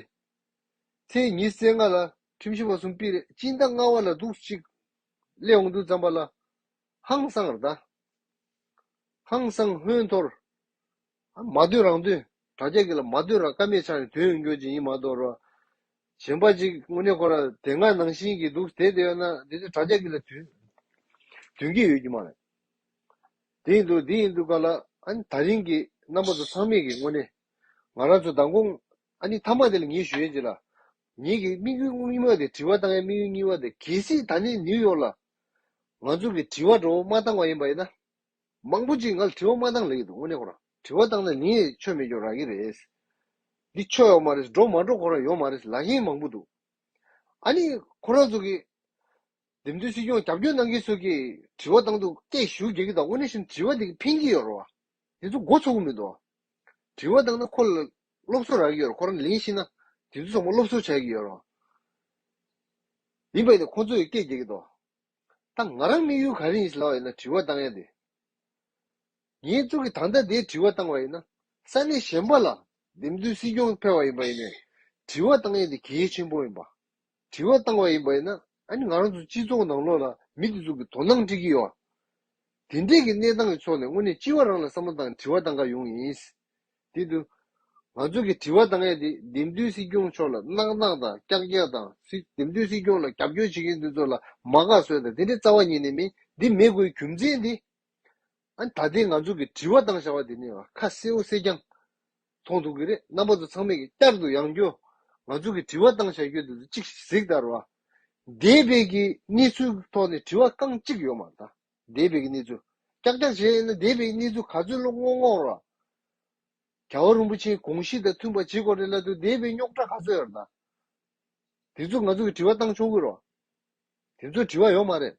ཚེས་ཉིས་བརྩེགས་ལྔ་ལ་ཁྲིམས་ཞིབ་བ་གསུམ་དཔེ་རེད་སྤྱིན་ཟླ་ལྔ་བ་ལ་འདུག་ཅིག་སླེབས་འོང་འདུག་བརྩམས་པ་ལ་ཧང་སང་ར་ད། ཧང་སང་ཧོན་ཐོར། མ་བསྡུས་རང་བསྡུས། དྲ་རྒྱ་གི་ལ་མ་བསྡུས་རང་ཀ་མེད་ཆགས་ནས་དོན་ཡོང་རྒྱུ་ཅི་ཡིན་མ་གཏོགས་རོ། གཞན་པ་ཅིག་དངོས་གནས་ཁོ་ར་དེ་སྔ་ནང་བཞིན་གྱི་འདུག་དེ་དེ་ཡོད་ན་དེ་ཚོས་དྲ་རྒྱ་གི་ལ་དུས་དུས་ཀྱི་ཡོད་རྒྱུ་མ་རེད། དེ་ཡིན་འདུག་འདི་ཡིན་འདུག་ག་ལ་ཨ་ནི་ད་རིང་གི་རྣམ་པ་ཚོ་ཚང་མིག་གི་དངོས་གནས་ང་རང་ཚོ་མདང་དགོང་ཨ་ནི་མཐའ་མ་དེ་ལ་ངེད་ཞུ་ཡོད་ཅིག་ལ། ངེད་ཀྱི་དམིགས་ཡུལ་དངོས་གཉིས་མ་དེ་དྲི་བ་བཏང་ཡའི་དམིགས་ཡུལ་གཉིས་པ་དེ་གལ་སྲིད་ད་ནི་ནིའུ་ཡོག་ལ་ང་ཚོ་གི་དྲི་བ་བྲོ་བོ་མ་བཏང་བ་ཡིན་པ་ཡིན་ན། མང་པོ་ཅིག་ངལ་དྲི་བ་མ་བཏང་ལེགས་འདུག་དངོས་གནས་ཁོ་རང་དྲི་བ་བཏང་ན་ནི་ཆོས་མེད་སྐྱོན་རག་གི་རེད། འདི་ཆོས་ཡོག་མ་རེད་སྒྲོག་མ་སྒྲོག་ཁོ་རང་ཡོག་མ་རེད་ལག་གཡེང་མང་པོ་འདུག་ཨ་ནི་ཁོ་རང་ཚོ་གིས། འདེམས་ཐོན་སྲིད་སྐྱོང་རྒྱབ་སྐྱོར་གནང་མཁན་ཚོ་གིས་དྲི་བ་བཏང་འདུག་སྐད་ཞུ་རྒྱག་གི་དང་དངོས་གནས་བཞིན་དྲི་བ་དེ་གིས་ཕན་གྱི་ཡོག་རེད་བ། དེ་ཚོ་མགོ་ཚོགས་གི་མི་འདུག་དྲི་བ་བཏང་ན་ཁོ་ལ་སློབ་གསོ་རག་གི་ཡོག་རེད་ཁོ་རང་ལེན་ཤེས་ན་དེ་ཚོ་ཚང་མ་སློབ་གསོ་བྱ་གི་ཡོག་རེད་བ། ཡིན་པ་ཡིན་ན་ཁོ་ཚོ་ཡི་སྐད་རྒྱག་གི་འདུག། ད་ང་རང་དམིགས་ཡུལ་ག་རེ་ཡིན་ལབ་པ་ཡིན་ན་དྲི་བ་བཏང་ཡ་དེ་ངའི་གཙུག་གི་ད་ལྟ་དེའི་དྲི་བ་བཏང་བ་ཡིན་ན་ས་གནས་གཞན་པ་ལ་འདེམས་ཚུལ་སྲིད་སྐྱོང་ཕེར་བ་ཡིན་པ་ཡིན་ནས་དྲི་བ་བཏང་ཡ་དེ་གལ་ཆེན་པོ་ཡིན་པ་དྲི་བ་བཏང་བ་ཡིན་པ་ཡིན་ན་ཨཱ་ནི་ང་རང་ཚོ་སྤྱི་ཚོགས་ནང་ལོགས་ལ་མི་དེ་ཚོ་གི་དོ་སྣང་སྤྲི་གི་ཡོད་དེ་འདྲས་གི་གནས་སྟངས་གི་ཚོགས་ནས་དངོས་གནས་སྤྱི་བ་རང་ལ་བསམ་བློ་བཏང་དྲི་བ་བཏང་ག་ཡོང་ཡིན། དེ་དུས། ང་ཚོ་གི་དྲི་བ་དང་ངས་དེ་འདེམས་སྡོད་སྲིད་སྐྱོང་མཆོག་ལ་གནག་གནག་དང་སྐྱག་སྐྱག་དང་སྲིད་འདེམས་སྡོད་སྲིད་སྐྱོང་ལ་རྒྱབ་སྐྱོར་བྱེད་མཁན་དེ་ཚོ་ལ་མ་དགའ་བསོད་དང་དེ་འདྲའི་རྩ་བ་ཉིད་ནས་མིན་འདི་མེད་དགོས་རྒྱུ་མཚན་དེ། ཨ་ནི་ད་ལྟའི་ང་ཚོ་གི་དྲི་བ་དང་བྱ་བ་དེ་ནི་ཁ་གསལ་བོ་གསལ་རྐྱང་མཐོང་ཐུབ་གི་རེད་རྣམ་པ་ཚོ་ཚང་མས་གི་བསྐྱར་དུ་ཡང་སྐྱོ། ང་ཚོ་གི་དྲི་བ་དང་བྱ་ཁྱོད་དེ་ཚོ་གཅིག་གཟིགས་ལྟར་བ། འདས་པའི་གི་གནས་ཚུལ་ཐོག་ནས་དྲི་བ་རྐང་གཅིག་ཡོད་མ་མཐའ། འདས་པའི་གནས་ཚུལ། ཀྱག་ཀྱག་བྱས་ན་འདས་པའི་གནས་ཚུལ་ག་ཚོད་ལོ་སྔོན་སྔོན་རོལ། ག་བ་རིན་པོ་ཆེའི་དགོངས་གཞི་དང་མཐུན་པ་ཇི་སྐོར་རེད་ལ་དུ་འདས་པའི་རྙོག་དྲ་ག་ཚོད་ཡོད་རེད་ད། དེ་ཚོ་ང་ཚོ་གི་དྲི་བ་བཏང་ཆོག་གི་རོ། དེ་ཚོ་དྲི་བ་ཡོད་མ་རེད།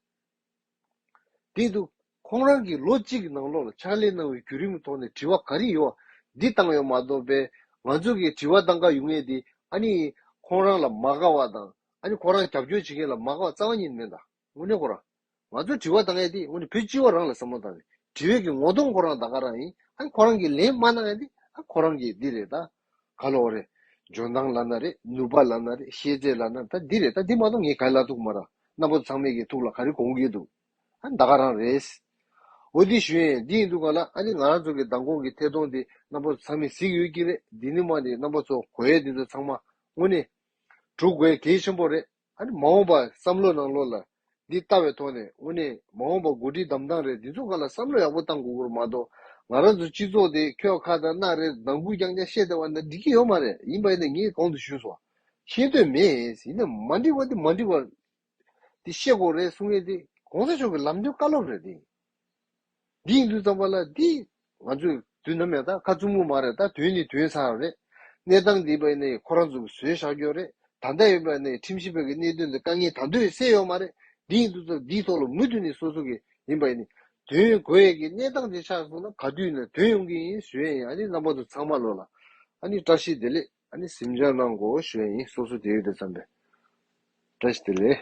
དེ་ཏུ། ཁོང་རང་གིས་ལོ་གཅིག་གི་ནང་ལོག་ལ་ཕྱག་ལས་གནང་བའི་བརྒྱུད་རིམ་གྱི་ཐོག་ནས་དྲི་བ་ག་རེ་ཡོད་འདི་བཏང་ཡོད་མ་གཏོགས་པས་ང་ཚོ་གི་དྲི་བ་བཏང་དཀའ་ཡོད་ངེས་དེ་ཨ་ནི་ཁོང་རང་ལ་མ་དགའ་བ་དང་ཨ་ནི་ཁོང་རང་རྒྱབ་སྐྱོར་བྱེད་མཁན་ལ་མ་དགའ་བ་རྩ་བ་ཉིད་མེད་ད། ངུ་ནི་ཁོ་རང། ང་ཚོས་དྲི་བ་དང་ཡས་དེ་ངུ་ནི་བུ་སྤྱི་བ་རང་ལ་ཟབ་མོ་དང་ནི། དྲི་བས་ཀྱི་ངོ་དོང་ཁོ་རང་ད་ག་རང་ཡིན། ཨ་ཁོ་རང་གིས་ལན་མ་གནང་ཡས་དེ་ཨ་ཁོ་རང་གིས་འདི་རེད་ད། ག་ལོ་རེད། འཇོན་ཐང་ལ་ན་རེད་ནུས་པ་ལ་ན་རེད་ཤེས་ཚད་ལ་ན་ད་འདི་རེད་ད་འདི་མ་གཏོགས་ངའི་ག་ལ་ཐུག་མ་རང་གནའ་བོ་ཚང་མས་ཀྱི་ཐུག་ལ་ག་རི་གོང་གིས་འདུག་ཨ་ད་ག་རང་རེད། འོ་འདི་ཞུ་ཡས་འདི་ཡིན་འདུག་ག་ལ་ཨ་འདི་ང་རང་ཚོ་གི་མདང་དགོང་གི་ཐད་གཏོང་དེ་གནའ་བོ་ཚང་མས་གཟིགས་ཡོད་ཀྱི་རེད་འདི་ནི་མ་འདི་གནའ་བོ་ཚོ་གོ་ཡས་འདི་ཚོ་ཚང་མ་ངུ་ནི། དྲུག་གོ་ཡས་གལ་ཆེན་པོ་རེད། ཨ་ནི་མ་འོངས་པ་བསམ་བློ་གནང་ལོ་ལ། འདི་ལྟ་བའི་ཐོག་ནས་དངོས་གནས་མ་འོངས་པ་མགོ་སྒྲིལ་གདམ་སྟངས་རེད་འདི་ཚོ་ཁ་ལ་བསམ་བློ་ཡག་པོ་གཏང་དགོས་གོར་མ་གཏོགས་ང་རང་ཚོ་སྤྱི་ཚོགས་དེ་ཁྱོད་ཁ་དང་སྣག་རེད་ནང་སྒུག་རྐྱང་རྐྱང་བཤད་བསྡད་བ་ན་འགྲིག་གི་ཡོད་མ་རེད་ཡིན་པ་ཡིན་ན་ངས་གང་དུ་ཞུས་སོང་ཤེས་འདོད་མེད་ཡིན་ན་མ་འགྲིག་པ་དེ་མ་འགྲིག་པ་དེ་བཤད་གོ་རེད་གསུང་ཡས་དེ་གོང་ས་མཆོག་གི་ལམ་སྟོན་བཀའ་སློབ་རེད་དེ། འདིས་འདུག་ཙམ་པ་ལ་འདི་ང་ཚོས་དུས་ནམ་ཡང་ད་ཁ་བཙུམ་གི་མ་རེད་ད་དུས་ནི་དུས་ཚར་རེད། གནས་སྟངས་འདི་བས་ནི་ཁོ་རང་ཚོ་གི་ཟོལ་བཞག་རྒྱུ་རེད་ད་ལྟ་ཡོད་པ་ནི་ཁྲིམས་ཞིབ་པ་གི་གནད་དོན་དེ་དཀའ་ངལ་དང་དོད་བསལ་ཡོད་མ་རེད་འདིས་འདུག་ཙམ་འདིའི་ཐོག་ལ་མུ་མཐུད་ནས་སོ་སོ་གི་ཡིན་པ་ནི་དོན་ཡོད་དགོས་ཡས་ཀི་གནས་སྟངས་དེ་ཆགས་སོང་ན་ག་དུས་ནས་དོན་ཡོང་གི་ཡིན་ཞུ་ཡས་ཡིན་ཨ་ནི་རྣམ་པ་ཚོ་ཚང་མ་ལོས་ལ་ཨ་ནི་བཀྲ་ཤིས་བདེ་ལེགས་ཨ་ནི་ཟིམ་ཆ་གནང་གོ་ཞུ་ཡས་ཡིན་སོ་སོ་དེ་ཡོད་དེ་ཙམ་པས་བཀྲ་ཤིས་བདེ་ལེགས།